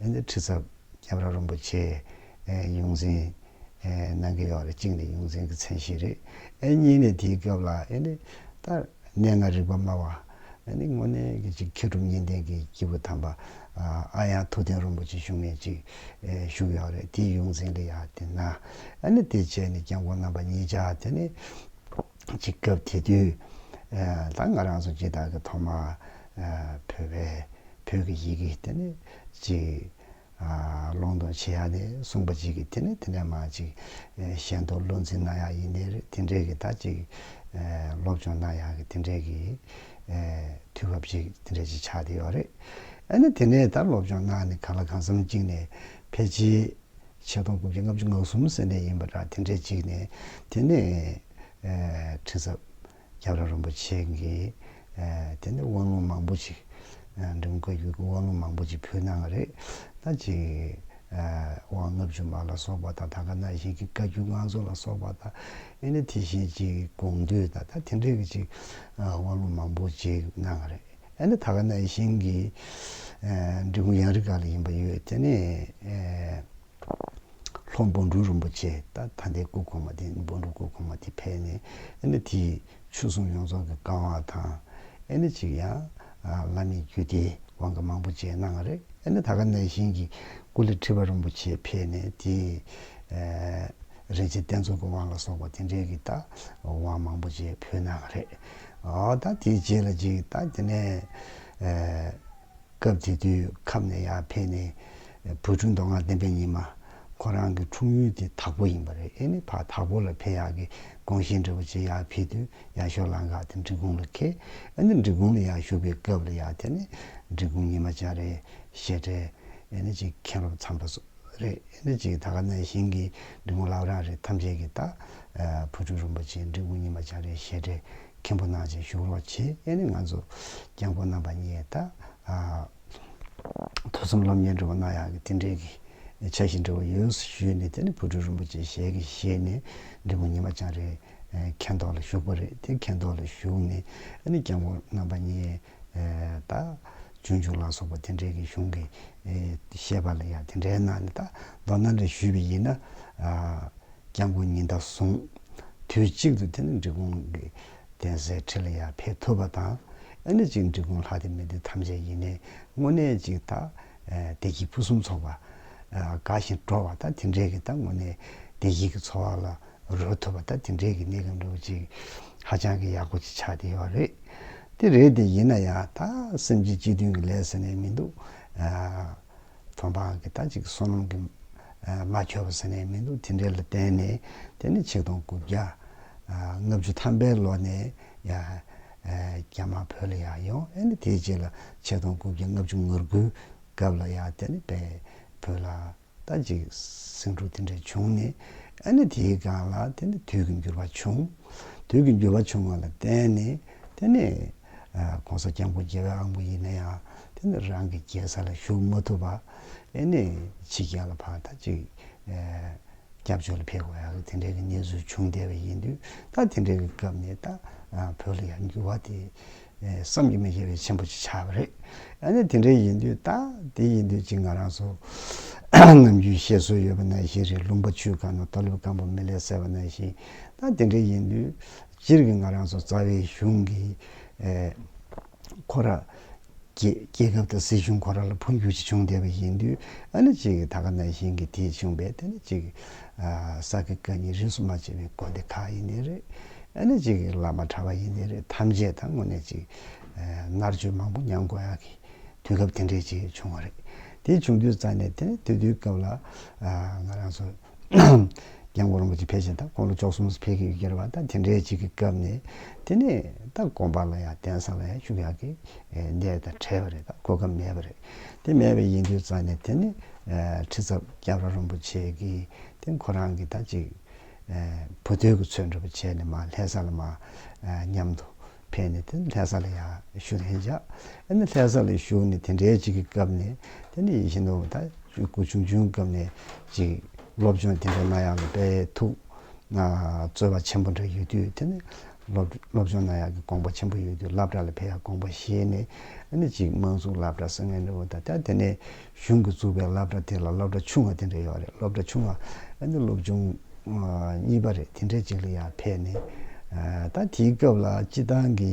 ཡང་ན་ཁྲི་ཚབ་སྐྱབས་ར་རོན་པོ་ཆེ་ཡོངས་འཛིན་གནང་གི་ཡོད་རེད་གཅིག་ནས་ཡོངས་འཛིན་གྱི་མཚན་གཞི་རེད་ཨེ་གཉིས་ནས་དེའི་སྐབས་ལ་ཨེ་ནས་ད་གནས་ལྔ་རིག་པ་སྨྲ་བ་ཨེ་ནས་དངོས་གནས་ཀྱི་གཅིག་མཁས་གྲུབ་གཉིས་ལྡན་གྱི་སྐྱེས་བུ་དམ་པ་ཨ་ཡང་ཐུགས་བསྟན་རོན་པོ་ཆེ་བཞུགས་གནས་གཅིག་བཞུགས་ཡོད་རེད་དེའི་ཡོངས་འཛིན་གྱི་ཡ་དེ་ན་ཨེ་ནས་དེ་བཅས་ནས་སྐྱབས་མགོན་རྣམ་པ་གཉིས་ཅག་དེ་ནས་གཅིག་སྐབས་དེ་དུས་ད་ང་རང་ཚོ་ཇི་ལྟར་གྱི་ཐོག་མ་བོད་པའི་བོད་ཀྱི་ཡི་གེ་དེ་ནི་གཅིག་སློང་དང་བྱེད་ཡག་ནི་གསུངས་པ་གཅིག་གི་དེ་ནི་དེ་འདྲ་མ་གཅིག་གཞན་དུ་བློ་འཛིན་གནང་ཡག་ཡིན་ནི་རེད་དེ་འདྲའི་གི་ད་གཅིག་སློབ་སྦྱོང་གནང་ཡག་གི་དེ་འདྲའི་གི་དུས་བབ་ཅིག་དེ་འདྲ་ཅིག་ཆགས་དེ་ཡོད་རེད་ཨ་ནི་དེ་ནས་ད་སློབ་སྦྱོང་གནང་ནི་ག་ལ་གང་བསམ་གཅིག་ནས་ཕལ་ཆེ། ཕྱེད་སྟོང་དགུ་བརྒྱ་ལྔ་བཅུ་ང་གསུམ་ཟེར་འདྲ་ཡིན་པ་འདྲ་དེ་འདྲའི་གཅིག་ནས་དེ་ནས་ཁྲི་ཟབ་སྐྱབས་ར་རིན་པོ་ཆེ་གི་དེ་ནས་དབང་ལུང་མང་པོ་ཞིག་འབྲི་མགོ་བརྒྱུད་ཀྱི་དབང་ལུང་མང་པོ་ཅིག་ཕུལ་གནང་བ་རེད། ད་ཅིག་དབང་ལྔ་བཅུ་མ་ལ་སོགས་པ་དང་ད་ག་ན་བཞིན་གྱི་བཀའ་བརྒྱུད་དབང་རྫོགས་ལ་སོགས་པ་དང་ཨེ་ནི་དེ་བཞིན་གཅིག་དགོངས་འདུས་དང་ད་དེ་འདྲའི་གཅིག་དབང་ལུང་མང་པོ་ཅིག་གནང་བ་རེད། ཨ་ནི་ད་ག་ནས་ཤིང་གི་འབྲི་གུང་གཡང་རི་ག་ལ་ཡིན་པ་ཡོད་དེ་ནས་ལྷོ་འབུམ་འབྲུག་རིན་པོ་ཆེ་ད་ད་ལྟའི་སྐུ་གོང་མ་དེ་འབུམ་འབྲུག་སྐུ་གོང་མ་དེ་ཕེབས་ནས་ཨ་ནི་དེས་ཆོས་གསུང་ཡོངས་རྫོགས་ཀྱི་བཀའ་དབང་དང་ཨ་ནི་ཅིག་ཡང་བླ་མེད་རྒྱུད་སྡེའི་དབང་གི་མང་པོ་བཅས་གནང་བ་རེད་ཨ་ནི་ད་ག་ནས་ཤིང་གི་སྐུ་ལས་ཁྲི་པ་རིན་པོ་ཆེ་ཕེབས་ནས་དེས་རིན་ཆེན་བསྟན་འཛུགས་ཀྱི་དབང་ལ་སོགས་པ་དེ་འདྲའི་གི་ད་དབང་མང་པོ་བཅས་ཕུལ་གནང་བ་རེད། ད་དེའི་རྗེས་ལ་ཅིག་ད་དེ་ནས་སྐབས་དེ་དུས་ཁམས་ནས་ཡར་ཕེབས་ནས་བུ་ཕྲུག་མདོ་སྔགས་བསྟན་པའི་ཉི་མ་ཁོ་རང་གི་འཁྲུངས་ཡུལ་དེ་དྭགས་པོ་ཡིན་པ་རེད་ཨེ་ནི་ཕ་དྭགས་པོ་ལ་ཕེབས་ཡག་གི་དགོངས་བཞེས་འབྲི་བོ་ཆེ་ཡར་ཕེབས་དུས་ཡར་ཞོ་ལང་འགག་དེ་འབྲི་གུང་ལ་ཁེལ་ཨེ་ནི་འབྲི་གུང་ལ་ཡར་ཞུགས་པའི་སྐབས་ལ་ཡར་དེ་ནས་འབྲི་གུང་ཉི་མ་བྱ་རའི་བཤད་གྲྭས་ཨེ་ནི་ཅིག་མཁན་སློབ་ཚངས་པ་སོགས་རེད་ཨེ་ནི་ཅིག་ད་ག་ནས་ཞིང་གི་འབྲི་གུང་བླ་བྲང་རེད་ཐམས་ཅད་ཀྱི་ད་བུ་ཕྲུག་རིན་པོ་ཆེའི་འབྲི་གུ་ཉི་མ་བྱང་རའི་བཤད་གྲྭའི་མཁན་པོ་གནང་ཆེད་ཞུགས་རོགས་བྱས་ཡས་ནས་ང་ཚོ་སྐྱབས་མགོན་རྣམ་པ་གཉིས་ད་ཐུགས་གསུམ་སློབ་གཉེར་འབྲི་བ་གནང་ཡག་གི་དེ་འདྲའི་གི་ཆ་ཞིག་འབྲི་བ་ཡོད་ཞུས་ནས་དེ་ནས་བུ་ཕྲུག་རིན་པོ་ཆེ་ཞལ་གྱིས་བཞེས་ནས་འབྲི་གུ་ཉི་མ་བྱང་རའི་མཁན་ཐོག་ལ་ཞུགས་པ་རེད་དེ་མཁན་ཐོག་ལ་ཞུགས་ནས་ཡས་ནས་སྐྱབས་མགོན་རྣམ་པ་གཉིས། ད་ཇོ་ཇོ་ལ་སོགས་པ་དེ་འདྲའི་གི་གཞུང་གི་བཤད་པ་ལ་ཡང་དེ་འདྲའི་ནང་ནས་ད་མདོར་ན་འདྲ་ཞུས་པ་ཡིན་ན། སྐྱབས་མགོན་ཉི་ཟླ་གསུང་དུས་གཅིག་ཏུ་དེ་ནི་འབྲི་གུང་གི་གདན་སའི་ཁྲི་ལ་ཡང་ཕེབས་ཐུབ་པ་དང། ཨ་ནི་གཅིག་འབྲི་གུང་ལྷ་དེ་མི་དེ་ཐམས་ཅད་ཡིན་ནའི་དངོས་གནས་གཅིག་ད་བདེ་སྐྱིད་ཕུན་སུམ་ཚོགས་པ་དགའ་ཞིང་སྤྲོ་བ་ད་དེ་འདྲའི་གི་ད་དངོས་གནས་བདེ་སྐྱིད་ཀྱི་འཚོ་བ་ལ། རོལ་ཐུབ་པ་ད་དེ་འདྲའི་གི་གནས་གང་འདྲ་བོ་ཅིག་ཧ་ཅང་གི་ཡག་པོ་ཅིག་ཆགས་བསྡད་ཡོད་པ་རེད། དེ་རེད་དེ་ཡིན་ན་ཡང་ད་སེམས་ཅན་སྤྱི་མཐུན་གི་ལས་ཟེར་ནས་མི་འདུག་ཐོན་འཕང་གི་ད་ཅིག་སོ་ནམ་གི་མ་འཁྱོལ་བ་ཟེར་ནས་མི་འདུག་དེ་འདྲའི་ལ་བརྟེན་ནས་དེ་ནི་ཆིག་སྟོང་དགུ་བརྒྱ་ལྔ་བཅུ་ཐམ་པའི་ལོ་ནས་རྒྱ་དམར་བོད་ལ་ཡང་ཡོང་ཨེ་ནི་དེའི་རྗེས་ལ་ཆིག་སྟོང་དགུ་བརྒྱ་ལྔ་བཅུ་ངོ་དགུའི་སྐབས་ལ་ཡང་དེ་ནི་བོད་ལ་ད་ཅིག་སེང་ཕྲུག་དེ་འདྲ་བྱུང་ནས་ཨ་ནེ་དེའི་སྒང་ལ་དེ་ནས་དུས་ཀྱི་འགྱུར་བ་བྱུང། དུས་ཀྱི་འགྱུར་བ་བྱུང་བ་ལ་བརྟེན་ནས་དེ་ནས་གོང་ས་སྐྱབས་མགོན་རྒྱལ་བའི་ཨ་མགོ་ཡིན་ན་ཡང་དེ་ནས་རང་གི་རྒྱལ་ས་ལ་བཞུགས་མ་ཐུབ་པ་ཨེ་ནས་ཕྱི་རྒྱལ་ལ་ཕར་ད་ཅིག་སྐྱབས་བཅོལ་ལ་ཕེབས་དགོས་ཡག་དེ་འདྲའི་གནས་ཚུལ་བྱུང་བསྡད་པ་ཡིན་དུས་ད་དེ་འདྲའི་སྐབས་ནས་ད་བོད་ལ་ཡང་འགྱུར་བ་དེ་བསམ་གྱི་མི་ཤེས་པའི་ཆེན་པོ་ཅིག་ཆགས་པ་རེད། ཡང་ན་དེ་འདྲའི་ཡིན་དུས་ད་དེ་ཡིན་དུས་གཅིག་ང་རང་ཚོ་ནམ་རྒྱུན་བཤད་སྲོལ་ཡོད་པ་ནང་བཞིན་རེད་ལུང་པ་ཆུའི་སྒང་ན་རྟ་ལུད་སྐམ་པོ་མི་ལས་གསལ་བ་ནང་བཞིན་ད་དེ་འདྲའི་ཡིན་དུས་སྤྱིར་གྱི་ང་རང་ཚོ་རྩ་བའི་གཞུང་གི་ཁོ་ར། རྒྱལ་ཁབ་དང་སྲིད་གཞུང་ཁོ་ར་ལ་འཕོ་འགྱུར་ཅིག་བྱུང་བསྡད་པ་ཡིན་དུས་ཨ་ནི་གཅིག་ད་ག་ནང་བཞིན་གྱི་དེ་བྱུང་བས་དེ་ནི་གཅིག་ས་དགེ་བཀའ་རྙིང་རིས་སུ་མ་ཆད་པའི་དགོན་སྡེ་དག་ཡིན་ནི་རེད། ཨ་ནི་ཅིག་བླ་མ་གྲྭ་བ་ཡིན་ནི་རེད་ཐམས་ཅད་དང་དངོས་གནས་ཅིག་མནར་གཅོད་མང་པོ་མྱངས་དགོས་ཡག་གི་དུས་སྐབས་དེ་འདྲས་ཅིག་བྱུང་བ་རེད། དེ་བྱུང་དུས་རྩ་ནས་དེ་ནི་དུས་དེའི་སྐབས་ལ་ང་རང་ཚོ་རྒྱལ་མགོན་རིན་པོ་ཆེ་ཕལ་ཆེར་དང་དཀོན་ལོ་ཅོག་གསུམ་ཕལ་གྱི་ཡུལ་གྱར་བ་དང་དེ་འདྲས་ཅིག་གི་སྐབས་ནས་དེ་ནས་ད་དགོན་པ་ལ་ཡང་གདན་ས་ལ་ཡང་ཤུགས་ཡག་གིས་བསྡད་དང་བྲལ་བ་རེད་ད་གོ་སྐབས་མེད་པ་རེད། དེ་མེད་པའི་ཡིན་དུས་རྩ་ནས་དེ་ནི་ཁྲི་ཚབ་སྐྱབས་ར་རོན་པོ་ཆེ་གིས་དེ་ཁོ་རང་གི་ད་ཅིག་བུ་སྟོད་ཀྱི་ཚོས་འགྲུབ་པ་བྱས་ནས་མ་ལྷས་ས་ལ་མ་མཉམ་དུ་ཕེབས་ནས་དེ་ལྷས་ས་ལ་ཡང་བཞུགས་ལྷན་ཅག་ཨེ་ནི་ལྷས་ས་ལ་བཞུགས་ནས་དེ་འདྲའི་ཅིག་གི་སྐབས་ནས་དེ་ནི་ཡིད་བཞིན་ནོར་བུ་ད་ཅིག་སྐུ་ཆུང་ཆུང་སྐབས་ནས་ཅིག་སློབ་སྦྱོང་དེ་འདྲ་གནང་ཡང་ལ་དཔལ་ཐུགས་སྩོལ་བ་ཆེན་པོ་འདྲ་ཡོད་དུས་དེ་ནི་སློབ་ཆུང་ན་ཡག་གི་དགོངས་པ་ཆེན་པོ་ཡོད་དུས་བསླབ་གྲྭ་ལ་ཕེབས་ཡག་དགོངས་པ་བཞེས་ནས་ཨ་ནི་གཅིག་དམངས་བཙུགས་བསླབ་གྲྭ་སེང་གེ་འདྲ་བོ་དང་དེ་ནས་གཞུང་གི་བཙུགས་པའི་བསླབ་གྲྭ་དེ་ལ་སློབ་གྲྭ་ཆུང་བ་དེ་འདྲ་ཡོད་རེད་སློབ་གྲྭ་ཆུང་བ་ཨ་ནི་སློབ་ཆུང་གཉིས་པ་རེད་དེ་འདྲའི་གཅིག་ལ་ཡང་ཕེབས་ནས་ད་དེའི་སྐབས་ལ་སྤྱི་བཏང་གི་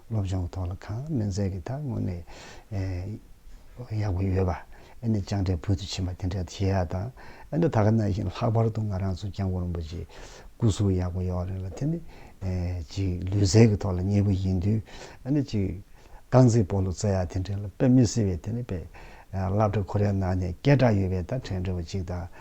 སློབ་སྦྱོང་གི་ཐོག་ལ་གང་སྨན་རྫས་ཀྱི་ཐག་དངོས་ནས་གཡག་པོ་ཡོད་པ་ཨེ་ནས་སྤྱང་གྲས་བོད་དུ་ཕྱིན་པ་དེ་འདྲའི་བྱེད་ཡག་དང་ཨེ་འདྲ་ད་ག་ན་བཞིན་ལྷག་པར་དུ་ང་རང་ཚོ་སྐྱབས་མགོན་རིན་པོ་ཆེའི་སྐུ་གཟུགས་ཡག་པོ་ཡོད་རེད་ལ་དེ་ནི་གཅིག་ལུས་རྩལ་གྱི་ཐོག་ལ་མཉེས་པོ་ཡིན་དུས་ཨེ་ནས་གཅིག་རྐང་རྩེད་སྤོ་ལོ་རྩེ་ཡག་དེ་འདྲའི་ལ་དཔེ་མི་སྲིད་པས་དེ་ནི་དཔེ་བླ་བྲེ་ཁོ་རེའི་ནང་ནས་སྐད་གྲགས་ཡོད་པའི་ད་ཕྲན་བྲེ་བོ་གཅིག་དང།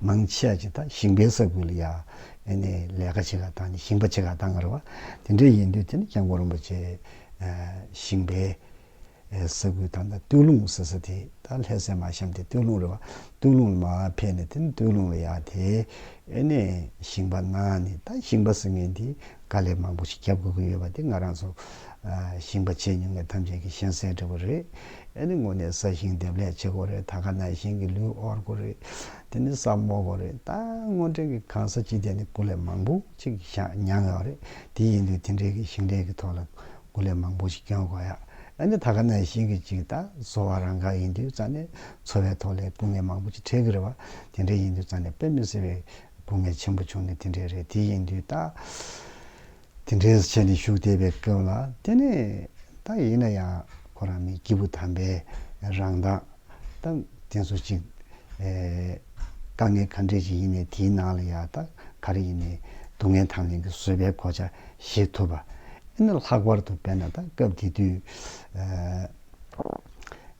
མང་ཆེ་བ་ཅིག་དང་ཞིང་པའི་ས་ཁུལ་ལ་ཡང་ནས་ལས་ཀ་བྱེད་ཀ་དང་ནས་ཞིང་པ་བྱེད་ཀ་གཏང་ཀ་རེད་བ། དེ་འདྲ་ཡིན་དུས་དེ་ནི་སྐྱབས་མགོན་རིན་པོ་ཆེ་ཞིང་པའི་ས་ཁུལ་དང་ཐང་སྟོད་ལུང་ཟེར་ས་དེ་དང་ལྷས་སའི་མ་གཤམ་དེ་སྟོད་ལུང་རེད་བ། སྟོད་ལུང་ལ་མ་ཕེབས་ནས་དེ་ནི་སྟོད་ལུང་ལ་ཡང་དེ་ནས་ཞིང་པ་གནང་ནས་ད་ཞིང་པ་ཟེར་མཁན་དེ། དཀའ་ལས་མང་པོ་ཞིག་རྒྱབ་དགོས་ཀྱི་ཡོད་པ་དེ་ང་རང་ཚོ་ཞིང་པ་བྱས་མྱོང་མཁན་ཐམས་ཅད་ཀྱིས་ཤེས་གསལ་འདྲ་བོ་རེད། ཨཱ་ནི་དངོས་གནས་ས་ཞིང་འདེབས་ལས་བྱེད་དགོས་རེད་ད་ག་ནང་བཞིན་གྱི་ལུས་དབོར་དགོས་རེད། དེ་ནི་ས་རྨོ་དགོས་རེད་ད་དངོས་འབྲེལ་གྱི་གང་ས་ཅི་བསྡད་ནས་དགུ་ལས་མང་པོ་ཅིག་བཞག་མྱངས་ཡོད་རེད་དེ་ཡིན་དུས་དེ་འབྲེལ་གྱི་ཞིང་ལས་ཀྱི་ཐོག་ལ་དགུ་ལས་མང་པོ་ཞིག་སྐྱོན་དགོས་ཡ་ཨཱ་ནི་ད་ག་ནང་བཞིན་གྱི་ཅིག་ད་བཟོ་བ་རང་འགའ་ཡིན་དུས་རྩ་ནས་འཚོ་བའི་ཐོག་ལས་སྐུ་ངལ་མང་པོ་ཅིག་འཕྲད་ཀྱི་རེད་བ་དེ་འདྲ་ཡིན་དུས་རྩ་ནས་དཔེ་མི་སྲིད་པའི་སྡུག་བསྔལ་ཆེན་པོ་བྱུང་ནི་དེ་འདྲའི་རེད་དེ་ཡིན་དུས་ད། དེ་འདྲའི་ཆ་ནས་བཞུགས་བསྡད་པའི་སྐབས་ལ་དེ་ནས་ད་ཡིན་ན་ཡང་ཁོ་རང་མི་སྐྱིད་པོ་དམ་པའི་རང་མདངས་ད་དེ་ཚོ་ཅིག་དཀའ་ངལ་ག་འདྲས་ཅིག་ཡིན་ནས་དེའི་ནང་ལ་ཡང་ད་ག་རེ་ཡིན་ནས་སྡུག་བསྔལ་དང་ལེན་གྱི་བཟོད་པའི་གོ་ཆ་བཞེས་ཐུབ་པ་ཨེ་ན་ལྷག་པར་དུ་དཔེར་ན་ད་སྐབས་དེ་དུས།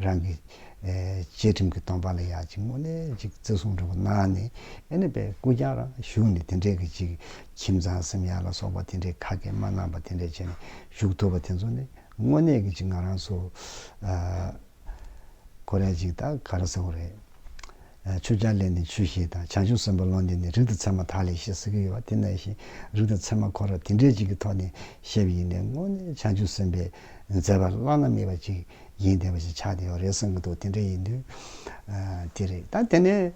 རང་གི་བཅས་ཁྲིམས་ཀྱི་སྟོང་པ་ལ་ཡང་ཅིག་མོ་ནས་ཅིག་བརྩི་བསྲུང་འགྲོ་པོ་གནང་ནས་ཨེ་ནི་པའི་སྐུ་རྐྱང་རང་བཞུགས་ནས་དེ་འདྲའི་གི་ཅིག་ཁྱིམ་ཚང་སེམས་ཡར་ལ་སོགས་པ་དེ་འདྲའི་ཁ་སྐད་མ་གནང་པ་དེ་འདྲའི་བྱས་ནས་བཞུགས་ཐུབ་པ་དེ་ཚོ་ནི་དངོས་གནས་གི་ཅིག་ང་རང་ཚོ་ཁོ་རས་ཅིག་ད་ག་རེ་ཟེར་བ་རེད། ཆུ་སྐྱར་ལས་ནི་ཆུ་ཤེས་དང་བྱང་ཆུབ་སེམས་དཔའ་བློ་འདས་ནི་རིགས་ལྡན་ཚད་མ་དག་ལས་ཤེས་ཟེར་གི་ཡོད་པ་དེ་ནང་བཞིན་རིགས་ལྡན་ཚད་མ་ཁོ་ར་དེ་འདྲའི་ཅིག་གི་ཐོག་ནས་བཤད་པ་ཡིན་ནས་དངོས་གནས་བྱང་ཆུབ་སེམས་དཔའི་མཛད་པ་བླ་ན་མེད་པ་ཅིག་ཡིན་བསྡད་པ་ཞིག་ཆགས་བསྡད་ཡོད་རེད་བསམ་གྱི་འདུག་དེ་འདྲ་ཡིན་དུས། དེ་རེད་ད་དེ་ནས་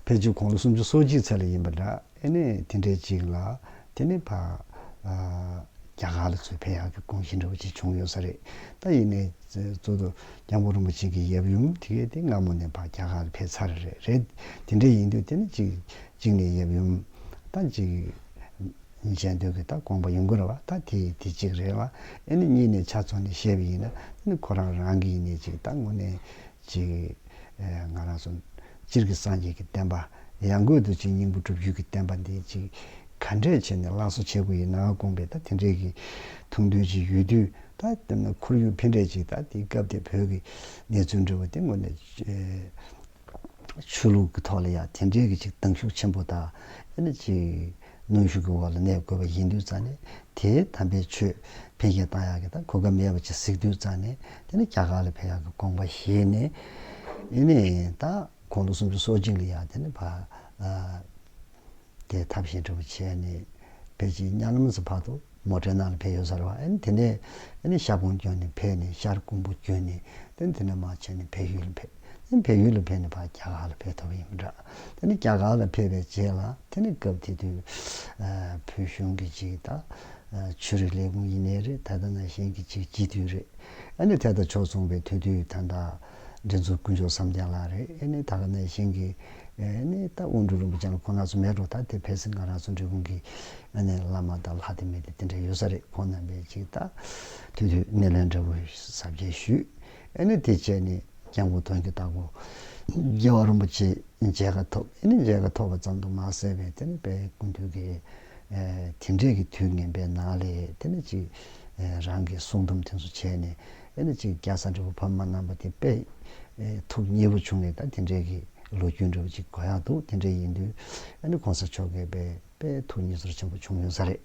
ཕལ་ཆེར་དགུང་ལོ་སུམ་ཅུ་སོ་གཅིག་ཚར་ལ་ཡིན་པ་འདྲ་ཨེ་ནས་དེ་འདྲའི་ཅིག་ལ་དེ་ནས་ཕ། རྒྱ་གར་ལ་ཚུར་ཕེབས་ཡག་གི་དགོངས་གཞི་འདྲ་བོ་ཅིག་བྱུང་ཡོད་ས་རེད་ད་ཡིན་ནས་གཙོ། སྐྱབས་མགོན་རིན་པོ་ཆེ་གི་ཡབ་ཡུམ་དེ་གས་དེ་སྔ་མོ་ནས་ཕ་རྒྱ་གར་ལ་ཕེབས་ཚར་རེད་དེ་འདྲ་ཡིན་དུས་དེ་ནས་ཅིག་ཅིག་ནས་ཡབ་ཡུམ་དང་ཅིག། གཉིས་ཆད་མདོས་ཀྱི་ད་དགོངས་པ་ཡུངས་ཀར་བ་ད་དེ་ཡི་དེ་གཅིག་རེད་ལ་ཨེ་ནི་གཉིས་ནས་ཆ་ཚོགས་ནས་བཤད་པ་ཡིན་ན་ནི་ཁོ་རང་རང་གི་ཡིན་ནས་ཅིག་ད་ངོ་ནས་ཅིག་ང་རང་སོ་སྤྱིར་གྱི་སངས་རྒྱས་ཀྱི་བསྟན་པ་ཡང་སྒོས་དུ་ཅིག་སྙིང་པོ་སྒྲུབ་བརྒྱུད་ཀྱི་བསྟན་པ་འདི་ཅིག་ག་འདྲས་བྱས་ནས་བླང་བཟོ་བྱེད་དགོས་ཡིན་ནའང་དགོངས་པས་ད་དེ་འདྲས་ཀྱི་ཐུགས་འདུན་ཅིག་ཡོད་དུས་ད་ཁོར་ཡུག་ཕན་འབྲས་ཅིག་ད་དེའི་སྐབས་དེ་བོད་ཀྱི་གནས་ཚུལ་འབྲེལ་བ་དེ་ངོ་ནས། ཆོས་ལུགས་ཀྱི་ཐོག་ལ་ཡང་དེ་འདྲའི་གཅིག་གདང་ཤུགས་ཆེན་པོ་དང་ཡང་ན་གཅིག་གནོན་ཤུགས་ཀྱི་འོག་ལ་གནས་དགོས་པ་ཡིན་དུས་ཙང་ནས་དེ་དམ་པའི་ཆོས་འཕེལ་རྒྱས་གཏང་ཡག་གི་ད་གོ་སྐབས་མེད་པ་ཅིག་གཟིགས་དུས་ཙང་ནས་དེ་ནི་རྒྱ་གར་ལ་ཕེབས་ཡག་གི་དགོངས་པ་བཞེས་ནས་ཡིན་ནས་ད་ཁོང་ལོ་སུམ་ཅུ་སོ་གཅིག་ལ་ཡང་དེ་ནི་བ། དེ་ཐབས་ཤེས་སྒྲུབ་བྱས་ནས་བེད་ཀྱི་གཉའ་ལམ་སུ་ཕག་ཏུ་མོ་དྲེད་ནང་ལ་ཕེབས་ཡོད་ས་རེད་བ་ཨེ་དེ་ནས་ཨེ་ཤར་གུང་བསྐྱོད་ནས་ཕེབས་ནས་ཤར་གུང་པོ་བསྐྱོད་ནས་དེ་ནས་དེ་ནས་མ་ཕྱིན་ནས་བལ་ཡུལ་ལ་ཕེབས་ཨེ་བལ་ཡུལ་ལ་ཕེབས་ནས་ཕ་རྒྱ་གར་ལ་ཕེབས་ཐུབ་ཡོད་མི་འདྲ་དེ་ནས་རྒྱ་གར་ལ་ཕེབས་པའི་རྗེས་ལ་དེ་ནས་སྐབས་དེ་དུས་བོད་གཞུང་གི་གཅིག་ད་ཆོས་རིག་ལས་ཁུངས་ཡིན་ནའི་རེད་ད་ད་ནང་བཞིན་གྱི་གཅིག་སྤྱི་འཐུས་རེད་ཨེ་ནས་དེ་ད་ཕྱོགས་མཚུངས་པའི་ཐུགས་འདུན་ད་ད། འདི་ཚོ་དཀོན་མཆོག་བསམ་གཏན་ལགས་རེད་ཨེ་ནི་ད་ག་ནས་བཞེངས་ཀི་ཨེ་ནི་ད་དབོན་སྤྲུལ་རིན་པོ་ཆེ་ལ་ཁོ་ན་ཚོ་མེད་འགྲོ་ད་དེ་བས་སྲིད་འགང་རང་ཚོ་འབྲི་གོང་གི་ཨེ་ནི་བླ་མ་དང་ལྷ་དེ་མི་དེ་དེ་འདྲ་ཡོད་ས་རེད་ཁོང་རྣམ་པས་ཅིག་ད་དུས་དུས་སྣེ་ལེན་འདྲ་བོ་ཟབ་རྒྱས་ཞུས་ཨེ་ནི་དེ་བྱས་ནི་སྐྱབས་མགོན་དོན་གྱི་བདག་པོ་རྒྱལ་བ་རིན་པོ་ཆེ་མཇལ་ཁ་ཐོབ་ཨེ་ནི་མཇལ་ཁ་ཐོབ་པ་ཙམ་དུ་མ་ཟད་པས་དེ་ནི་དཔལ་ཀུན་འདུས་ཀྱི། དེ་འདྲས་ཀྱི་དུས་ངན་པའི་ནང་ལས་དེ་ནས་ཅིག་རང་གི་གསུང་དུམ་ཐེངས་སུ་བྱས་ནས་དེ་ནས་ཅིག་རྒྱ་བཟའ་འབྲས་བུ་ཕ་མ་རྣམ་པ་དེ་དཔེ་ཐུགས་མཉེས་པོ་བྱུང་ནས་ད་དེ་འདྲས་ཀྱི་ལོ་རྒྱུས་འདྲ་བོ་ཅིག་གོ་ཡག་འདུག་དེ་འདྲས་ཡིན་དུས་ཨ་ནི་གོང་ས་མཆོག་གི་དཔེ་དཔེ་ཐུགས་མཉེས་ཚོར་ཆེན་པོ་བྱུང་ཡོད་ས་རེད་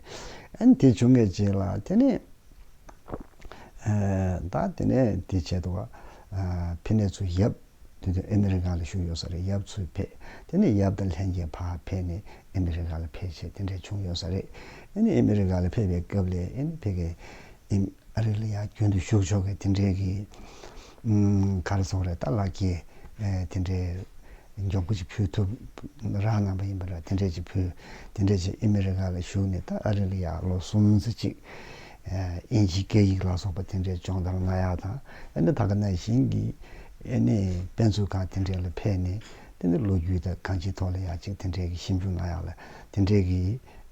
ཨ་ནི་དེ་བྱུང་གི་རྗེས་ལ་དེ་ནས་ད་དེ་ནས་དེ་བྱས་འདུག་ཕི་ནས་ཚུར་ཡབ། དེ་དུས་ཨེ་མི་རི་ཀ་ལ་བཞུགས་ཡོད་ས་རེད་ཡབ་ཚུར་ཕེབས་དེ་ནས་ཡབ་དང་ལྷན་གྱིས་ཕ་ཕེབས་ནས་ཨེ་མི་རི་ཀ་ལ་ཕེབས་བྱས་དེ་འདྲ་བྱུང་ཡོད་ས་རེད་ཨེ་ནི་ཨེ་མི་རི་ཀ་ལ་ཕེབས་པའི་སྐབས་ལས་ཨེ་ནི་ཕེབས་ཀའི་ཨེ་མི་རི་ལ་ཡང་རྒྱུན་དུ་བཞུགས་ཆོག་གི་དེ་འདྲའི་གི་གར་སོང་རེད་ད་ལགས་ཀྱི་དེ་འདྲའི་མགྱོགས་པོ་ཅིག་ཕུལ་ཐུབ་རག་གནང་པ་ཡིན་པ་འདྲ་དེ་འདྲའི་ཅིག་ཕུལ་དེ་འདྲའི་ཅིག་ཨེ་མི་རི་ཀ་ལ་བཞུགས་ནས་ད་ཨ་རི་ལ་ཡང་ལོ་གསུམ་ཟེར་ཅིག་དབྱིན་ཇིའི་སྐད་ཡིག་ལ་སོགས་པ་དེ་འདྲའི་སྦྱོང་བརྡར་སྣ་ཡག་དང་ཨ་ནེ་ད་ག་ནཱ་གཞན་གྱི་ཨེ་ནེ་དཔེ་མཛོད་ཁང་དེ་འདྲའི་ལ་ཕེབས་ནས་དེ་འདྲའི་ལོ་རྒྱུས་དང་གང་ཅིའི་ཐོག་ལ་ཡག་ཅིག་དེ་འདྲའི་གི་ཞིབ་འཇུག་སྣ་ཡག་ལ་དེ་འདྲའི་གི་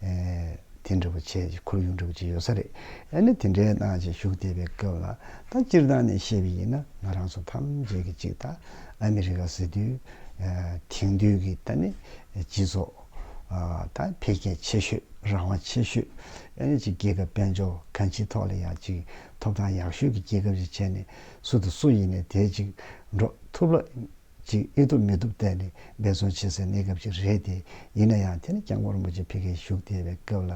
དེ་འདྲ་བོ་བྱས་ཅིག་ཁོར་ཡུག་འདྲ་བོ་ཅིག་ཡོད་ས་རེད་ཨེ་ནེ་དེ་འདྲའི་ནང་ཅིག་ཞུགས་བསྡད་པའི་སྐབས་ལ་ད་སྤྱིར་བཏང་ནས་བཤད་པའི་ཡིན་ན་ང་རང་ཚོ་ཐམས་ཅད་ཀྱི་ཅིག་ད་ཨ་མི་རི་ཀ་ཟེར་དུས་དེང་དུས་ཀྱི་ད་ནི་སྤྱི་ཚོགས། དང་འཕེལ་རྒྱས་ཆེ་ཤོས་རང་དབང་ཆེ་ཤོས་ཨེ་རེད་ཅེས་རྒྱལ་ཁབ་དཔལ་འབྱོར་གང་ཅིའི་ཐོག་ལ་ཡང་ཅིག་ཐོབ་ཐང་ཡག་ཤོས་ཀྱི་རྒྱལ་ཁབ་ཅིག་བྱས་ནས་སུ་དང་སུ་ཡིན་ནས་དེས་ཅིག་འགྲོ་ཐུབ་ལ། ཅིག་ཨེ་ཐུབ་མི་ཐུབ་བལྟས་ནས་འབད་བརྩོན་བྱེད་སའི་གནས་སྐབས་ཅིག་རེད་དེ། ཡིན་ན་ཡང་དེ་ནི་སྐྱབས་མགོན་རིན་པོ་ཆེ་ཕེབས་མཁན་བཞུགས་བསྡད་པའི་སྐབས་ལ་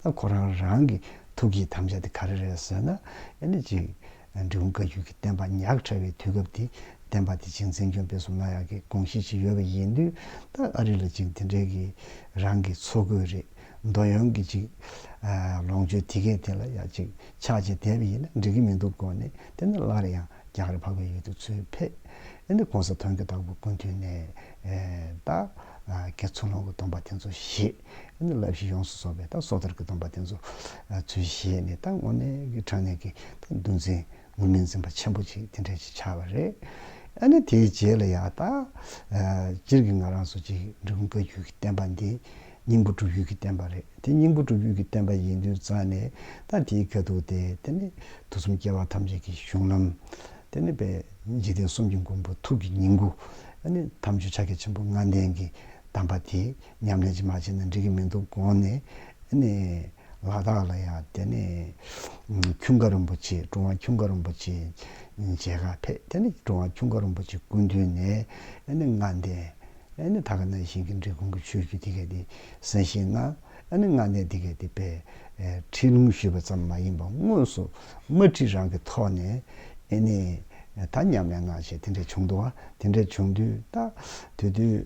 ད་ཁོ་རང་རང་གི་ཐུགས་ཀྱི་དམ་བཅའ་དེ་ག་རེ་རེད་ཟེར་ན་ཨེ་རེད་ཅིག། འབྲི་གུང་བཀའ་བརྒྱུད་ཀྱི་བསྟན་པ་ཉག་ཕྲ་བའི་དུས་སྐབས་དེ་བསྟན་པ་དེ་བྱིངས་འཛིན་གྱོན་སྤེལ་སོགས་ན་ཡག་གི་དགོངས་གཞི་ཞིག་ཡོད་པ་ཡིན་དུས་ད་ཨ་རི་ལ་ཅིག་དེ་འདྲའི་གི་རང་གི་འཚོ་དགོས་རེད་མདོ་ཡོན་གྱི་ཅིག་ལོངས་སྤྱོད་དེ་གས་དེ་ལ་ཡག་ཅིག་ཕྱག་བྱས་དད་པ་ཡིན་ན་འགྲིག་གི་མི་འདུག་གོ་ནི་དེ་ནི་སླར་ཡང་རྒྱག་རེ་འཕགས་པའི་ཡུལ་དུ་ཚུར་ཕེབས་ནི་གོང་ས་མཐོན་གྱི་བདག་པོ་ཀུན་འཐུས་ནས་ད་གེ་ཚུར་ལོངས་ཀྱི་སྡོམ་པ་དེ་ཚོ་བཞེས། ཡང་ན་བསླབ་གཞི་ཡོངས་སུ་རྫོགས་པའི་ད་སོ་ཐར་གྱི་སྡོམ་པ་དེ་ཚོ་ཚུལ་བཞེས་ནས་ད་དངོས་གནས་ཀྱི་དྲང་གནས་ཀྱི་ད་འདུལ་འཛིན་དངོས་མིང་འཛིན་པ་ཆེན་པོ་ཅིག་དེ་འདྲ་ཅིག་ཆགས་པ་རེད། ཡང་ན་དེའི་རྗེས་ལ་ཡང་ད་སྤྱིར་གྱི་ང་རང་སོ་སྤྱིའི་འབྲི་གུང་བཀའ་བརྒྱུད་ཀྱི་བསྟན་པ་འདི་སྙིང་པོ་གྲུབ་ཡུལ་གྱི་བསྟན་པ་རེད་དེ་སྙིང་པོ་གྲུབ་ཡུལ་གྱི་བསྟན་པ་ཡིན་དུས་རྩ་ནས་ད་དེའི་དགེ་སྡུག་དེ་དེ་ནི་དུས་གསུམ་སྐྱེ་བ་ཐམས་ཅད་ཀྱི་གཞུང་ལམ། དེ་ནི་དཔལ་འཇིག་རྟེན་གསུམ་གྱི་མགོན་པོ་ཐུགས་ཀྱི་ཉིང་ཁུ། ཐམས་ཅད་ཕྱག་རྒྱ་ཆེན་པོ་ལྔ་ལྡན་གྱི་གདམས་པ་དེ། ཉམས་ལེན་ཅིག་མ་བྱས་ན་འགྲིག་གི་མི་འདུག་དགོངས་ནས་ནི། ལ་དྭགས་ལ་ཡང་དེ་ནས་ཁྱུང་དཀར་རིན་པོ་ཆེ་ཀྲུང་བ་ཁྱུང་དཀར་རིན་པོ་ཆེ་མཇལ་ཁ་ཕེབས་དེ་ནི་ཀྲུང་བ་ཁྱུང་དཀར་རིན་པོ་ཆེ་སྐུ་མདུན་ནས་ནི་ལྔ་ལྡན་ནི་ད་ག་ན་ཞིང་གི་འབྲི་གུང་གི་ཆོས་བརྒྱུད་དེ་གའི་དེ་གསན་བཞེས་གནང་ནི་ལྔ་ལྡན་དེ་གའི་དེ་པའི་ཁྲིད་ལུང་ཞུས་པ་ཙམ་མ་ཡིན་པ་དངོས་སུ་དམར་ཁྲིད་རང་གི་ཐོག་ནས་ནི་ད་ཉམས་ལེན་གནང་བྱས་དེ་འདྲ་བྱུང་འདུག་བ་དེ་འདྲ་བྱུང་དུས་ད་དུས་དུས།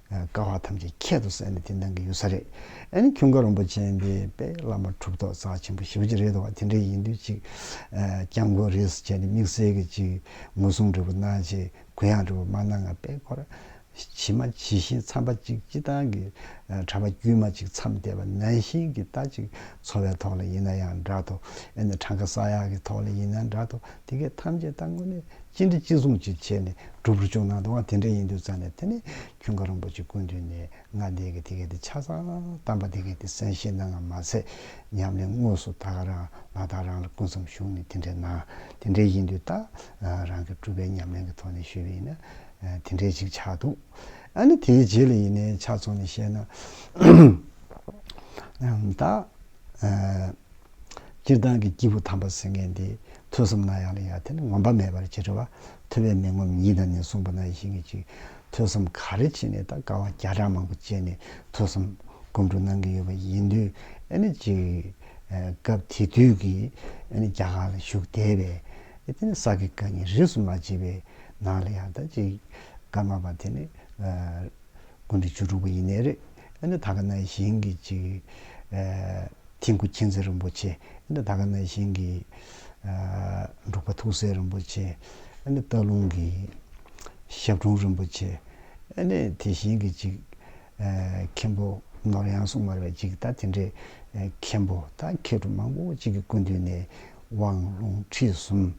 དཀའ་བ་ཐམས་ཅད་ཁྱད་དུ་བསད་ནས་དེ་འདང་གི་ཡོད་ས་རེད་ཨེ་ན་ཁྱུང་དཀར་རོམ་པོ་ཅན་དེ་དཔལ་བླ་མ་གྲུབ་ཐོག་རྩ་ཆེན་པོ་ཞེ་བོ་ཅིག་རེད་འདུག་བ་དེ་འདྲ་ཡིན་དུས་ཅིག་སྐྱབས་མགོན་རེད་ཟེར་བྱས་ནས་དམིགས་བསལ་གྱི་ཅིག་ངོ་སྲུང་འབྲས་བུ་གནང་རྗེས་གུ་ཡངས་འབྲས་བུ་མ་གནང་ང་དཔལ་འཁོར་ཇི་མ་ཇི་བཞིན་མཚམས་པ་ཅིག་སྤྱི་བཏང་གི་གྲྭ་པ་དཀྱུས་མ་ཅིག་མཚམས་བལྟས་པ་ནན་བཞིན་གྱི་ལྟ་ཅིག་འཚོ་བའི་ཐོག་ལ་ཡིན་ན་ཡང་འདྲ་ཐོ་ཨེ་ན་གྲངས་ཀ་ས་ཡག་གི་ཐོག་ལ་ཡིན་ན་འདྲ་ཐོ། དེ་སྐད་ཐམས་ཅད་བཏང་ངོ་ནས་ཅི་འདྲི་ཅི་གསུང་ཅི་བྱས་ནས་སྒྲུབ་རུ་བཅུག་ནང་དུའང་དེ་འདྲ་ཡིན་འདུག་ཙང་ནས་དེ་ནས་ཁྱུང་དཀར་རིན་པོ་ཆེ་སྐུ་མདུན་ནས་ང་འདས་ཀྱི་དེ་སྐད་དེ་ཆ་ཚང་གཏམ་པ་དེ་སྐད་དེ་གསན་བཞེས་གནང་ངམ་མ་ཚད་སྙམ་ནས་དངོས་སུ་ད་ག་རང་ལ་དང་རང་ལ་སྐུ་མཚམས་བཞུགས་ནས་དེ་འདྲའི་ནང་དེ་འདྲའི་ཡིན་འདུག་ད་རང་གི་སྤྲུལ་པའི་ཉམས་ལེན་གྱི་ཐོག་ནས་ཞུས་པ་ཡིན་ན་དེ་འདྲའི་ཅིག་ཆགས་འདུག་ཨ་ནི་དེའི་རྗེས་ལ་ཡིན་ནའི་ཆ་ཚང་ནས་བཤད་ན་ད། སྤྱིར་བཏང་གི་སྐྱེས་བུ་དམ་པ་ཟེར་མཁན་དེ་ཐོས་བསམ་གནང་ཡག་ལེན་ཡག་དེ་ནི་ངོམ་པ་མེད་པར་བྱེད་འགྲོ་བ་ཐོས་པའི་མི་ངོམ་ཉིད་དང་ནི་གསུངས་པ་ན་ཡིན་གྱི་ཅིག་ཐོས་བསམ་ག་རེ་བྱས་ནས་ད་དཀའ་བ་བརྒྱ་ཕྲག་མང་པོ་སྤྱད་ནས་ཐོས་བསམ་སྒོམ་སྒྲུབ་གནང་གི་ཡོད་པ་ཡིན་དུས་ཨེ་ནི་ཅིག་སྐབས་དེ་དུས་ཀྱི་ཨེ་ནི་རྒྱ་གར་ལ་བཞུགས་བསྡད་པའི་ཨེ་དེ་ནི་ས་དགེ་བཀའ་ཉིན་རིས་སུ་མ་བྱས་པའི་ནང་ལ་ཡང་ད་ཅིག་བཀའ་མ་པ་དེ་ནི་དགུན་དུ་བཅུ་དྲུག་པ་ཡིན་ནའི་རེད་ཨེ་འདྲ་ད་ག་ན་བཞིན་གྱི་ཅིག་ཐིག་གུ་མཁྱེན་བརྩེ་རིན་པོ་ཆེ་ཨེ་འདྲ་ད་ག་ན་བཞིན་གྱི་འབྲུག་པ་ཐུགས་སྲས་རིན་པོ་ཆེ་ཨེ་འདྲ་སྟག་ལུང་གི་ཞབས་དྲུང་རིན་པོ་ཆེ་ཨེ་འདྲ་དེ་བཞིན་གྱི་ཅིག་མཁན་པོ་ནོར་གཡང་སྲུང་མ་རེད་པ་ཅིག་ད་དེ་འདྲའི་མཁན་པོ་ད་མཁས་གྲུབ་མང་པོ་ཅིག་གི་སྐུ་མདུན་ནས། དབང་ལུང་ཁྲིད་གསུམ།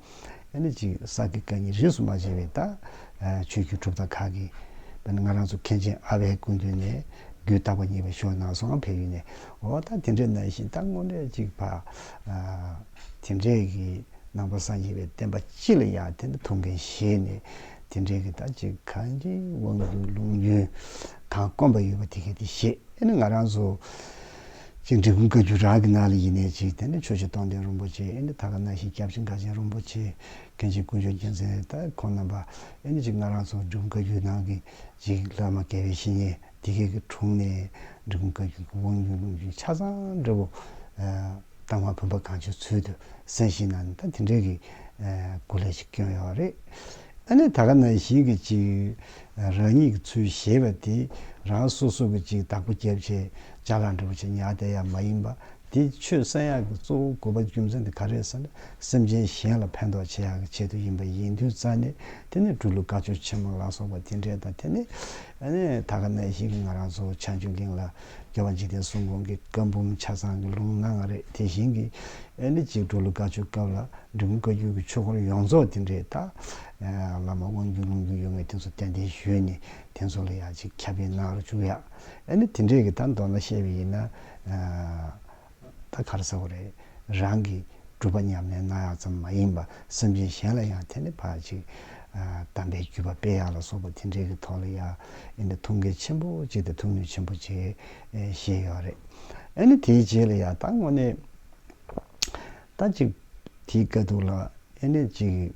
ཡང་ན་ཅིག་གསང་གི་བཀའ་ཉིད་རིས་སུ་མ་ཕྱེ་བའི་རྟགས། ཆོས་བརྒྱུད་གྲུབ་མཐའ་ཁག་གི། དཔོན་ང་རང་ཚོ་མཁན་ཆེན་ཨ་བྷའི་སྐུ་མདུན་ནས། རྒྱུད་བཏགས་པ་གཉིས་པ་ཞོ་ནང་སོང་ཕེབས་ཡུལ་ནས། འོ་ད་དེ་འདྲའི་ན་བཞིན་ད་དངོས་འབྲེལ་གཅིག་ཕ། དེ་འདྲའི་གི་ནང་པ་སངས་རྒྱས་པའི་བསྟན་པ་སྤྱི་ལ་ཡང་དེ་འདྲ་ཐུགས་འགན་བཞེས་ནས། དེ་འདྲའི་གི་ད་ཅིག་གང་ཅིའི་དབང་བསྡུས་ལུང་རྒྱུན། གང་དཀོན་པ་ཡོད་པ་དེ་གས་དེ་བཞེས་ཡིན་ན་ང་རང་ཚོ། ཅིག་འབྲི་གུང་བཀའ་བརྒྱུད་རང་གི་ནང་ལ་ཡེ་ནས་ཅིག་དེ་ནས་ཆོས་རྗེ་སྟོང་ལྡན་རིན་པོ་ཆེ་ཨེ་ནི་ཐ་ག་སྣང་ཞིག་སྐྱབས་སྦྱིན་དགའ་ཆེན་རིན་པོ་ཆེ་མཁན་ཆེན་ཀུན་སྦྱོར་རྒྱལ་མཚན་ད་ཁོང་རྣམ་པ་ཨེ་ནི་ཅིག་སྔ་རང་ཚོ་འབྲི་གུང་བཀའ་བརྒྱུད་ནང་གི་ཅིག་བླ་མ་དགེ་བའི་བཤེས་གཉེན་དེ་གའི་གི་དྲུང་ནས་འབྲི་གུང་བཀའ་བརྒྱུད་ཀྱི་དབང་རྒྱུན་ལུང་རྒྱུན་ཆ་ཚང་འབྲི་བོ་སྟག་མ་བུམ་པ་གང་བྱོའི་ཚུལ་དུ་གསན་བཞིན་ན་ད་དེ་འདྲའི་གི་སྐུ་ལས་ཅིག་བསྐྱོན་ཡོད་རེད། ཨ་ནི་ད་ག་ན་ཞིག་གི་ཅིག། རང་ཉིད་ཀྱི་ཚུལ་ཞེས་པ་དེ་རང་སོ་སོ་གི་ཅིག་བདག་པོ་རྒྱབ་ཆེ་བྱ་ལ་འདྲ་བོ་ཆེ་ཉག་དེ་ཡང་མ་ཡིན་པ། དེ་ཆོས་གསན་ཡག་གི་གཙོ་བོ་དགོས་པ་རྒྱུ་མཚན་དེ་ག་རེད་ཟེར་ན་སེམས་ཅན་གཞན་ལ་ཕན་ཐོགས་བྱེད་ཡག་གི་ཆེད་དུ་ཡིན་པ་ཡིན་དུས་རྩ་ནས་དེ་ནི་སྦྲུལ་ལུག་དགའ་ཆོས་ཆེན་མོ་ལ་སོགས་པ་དེ་འདྲས་དང་དེ་ནི། ད་ག་ནས་ཞིག་ང་རང་ཚོ་ཆ་འཇུག་གིང་ལ་རྒྱལ་བ་འཇིག་རྟེན་གསུམ་གོང་གི་བཀའ་འབུམ་ཆ་ཚང་གི་ལུང་ན་ང་རེད་དེ་བཞིན་གི་ཨེ་འདི་གཅིག་འགྲོ་ལུགས་དཀའ་ཆོས་སྐབས་ལ་འབྲི་གུང་བཀའ་རྒྱུད་ཀྱི་ཆོས་འཁོར་ཡོངས་རྫོགས་དེ་འདྲའི་དག་བླ་མ་དབང་རྒྱུད་ལུང་རྒྱུད་ཡོད་ངེས་དེ་ཚོ་གཏན་གཏན་ཞུས་ནས་དེ་ཚོ་ལ་ཡང་ཅིག་ཁྱབ་སྤེལ་གནང་རོགས་བཅུག་ཡ། ཨེ་འདི་དེ་འདྲས་ཀྱི་ད་མདོར་ན་བཤད་པའི་ཡིན་ན། ད་གར་ཟེར་བ་རེད། རང་གིས་སྒྲུབ་པ་ཉམས་ལེན་གནང་ཡག་ཙམ་མ་ཡིན་པར་སེམས་ཅན་གཞན་ལ་ཡང་དེ་ནི་ཕར་ཅིག། དམ་པའི་བརྒྱུད་པ་སྤེལ་ཡག་ལ་སོགས་པ་དེ་འདྲའི་གི་ཐོག་ལ་ཡ། ཨེ་འདི་ཐུགས་འགལ་ཆེན་པོ་གཅིག་དང་ཐུགས་ནུས་ཆེན་པོ་གཅིག། ཞེས་ཡོད་རེད། ཨེ་ནི་དེའི་རྗེས་ལ་ཡ་ད་དངོས་གནས། ད་ཅིག་དེའི་དཀའ་སྡུག་ལ་ཨེ་ནས་ཅིག།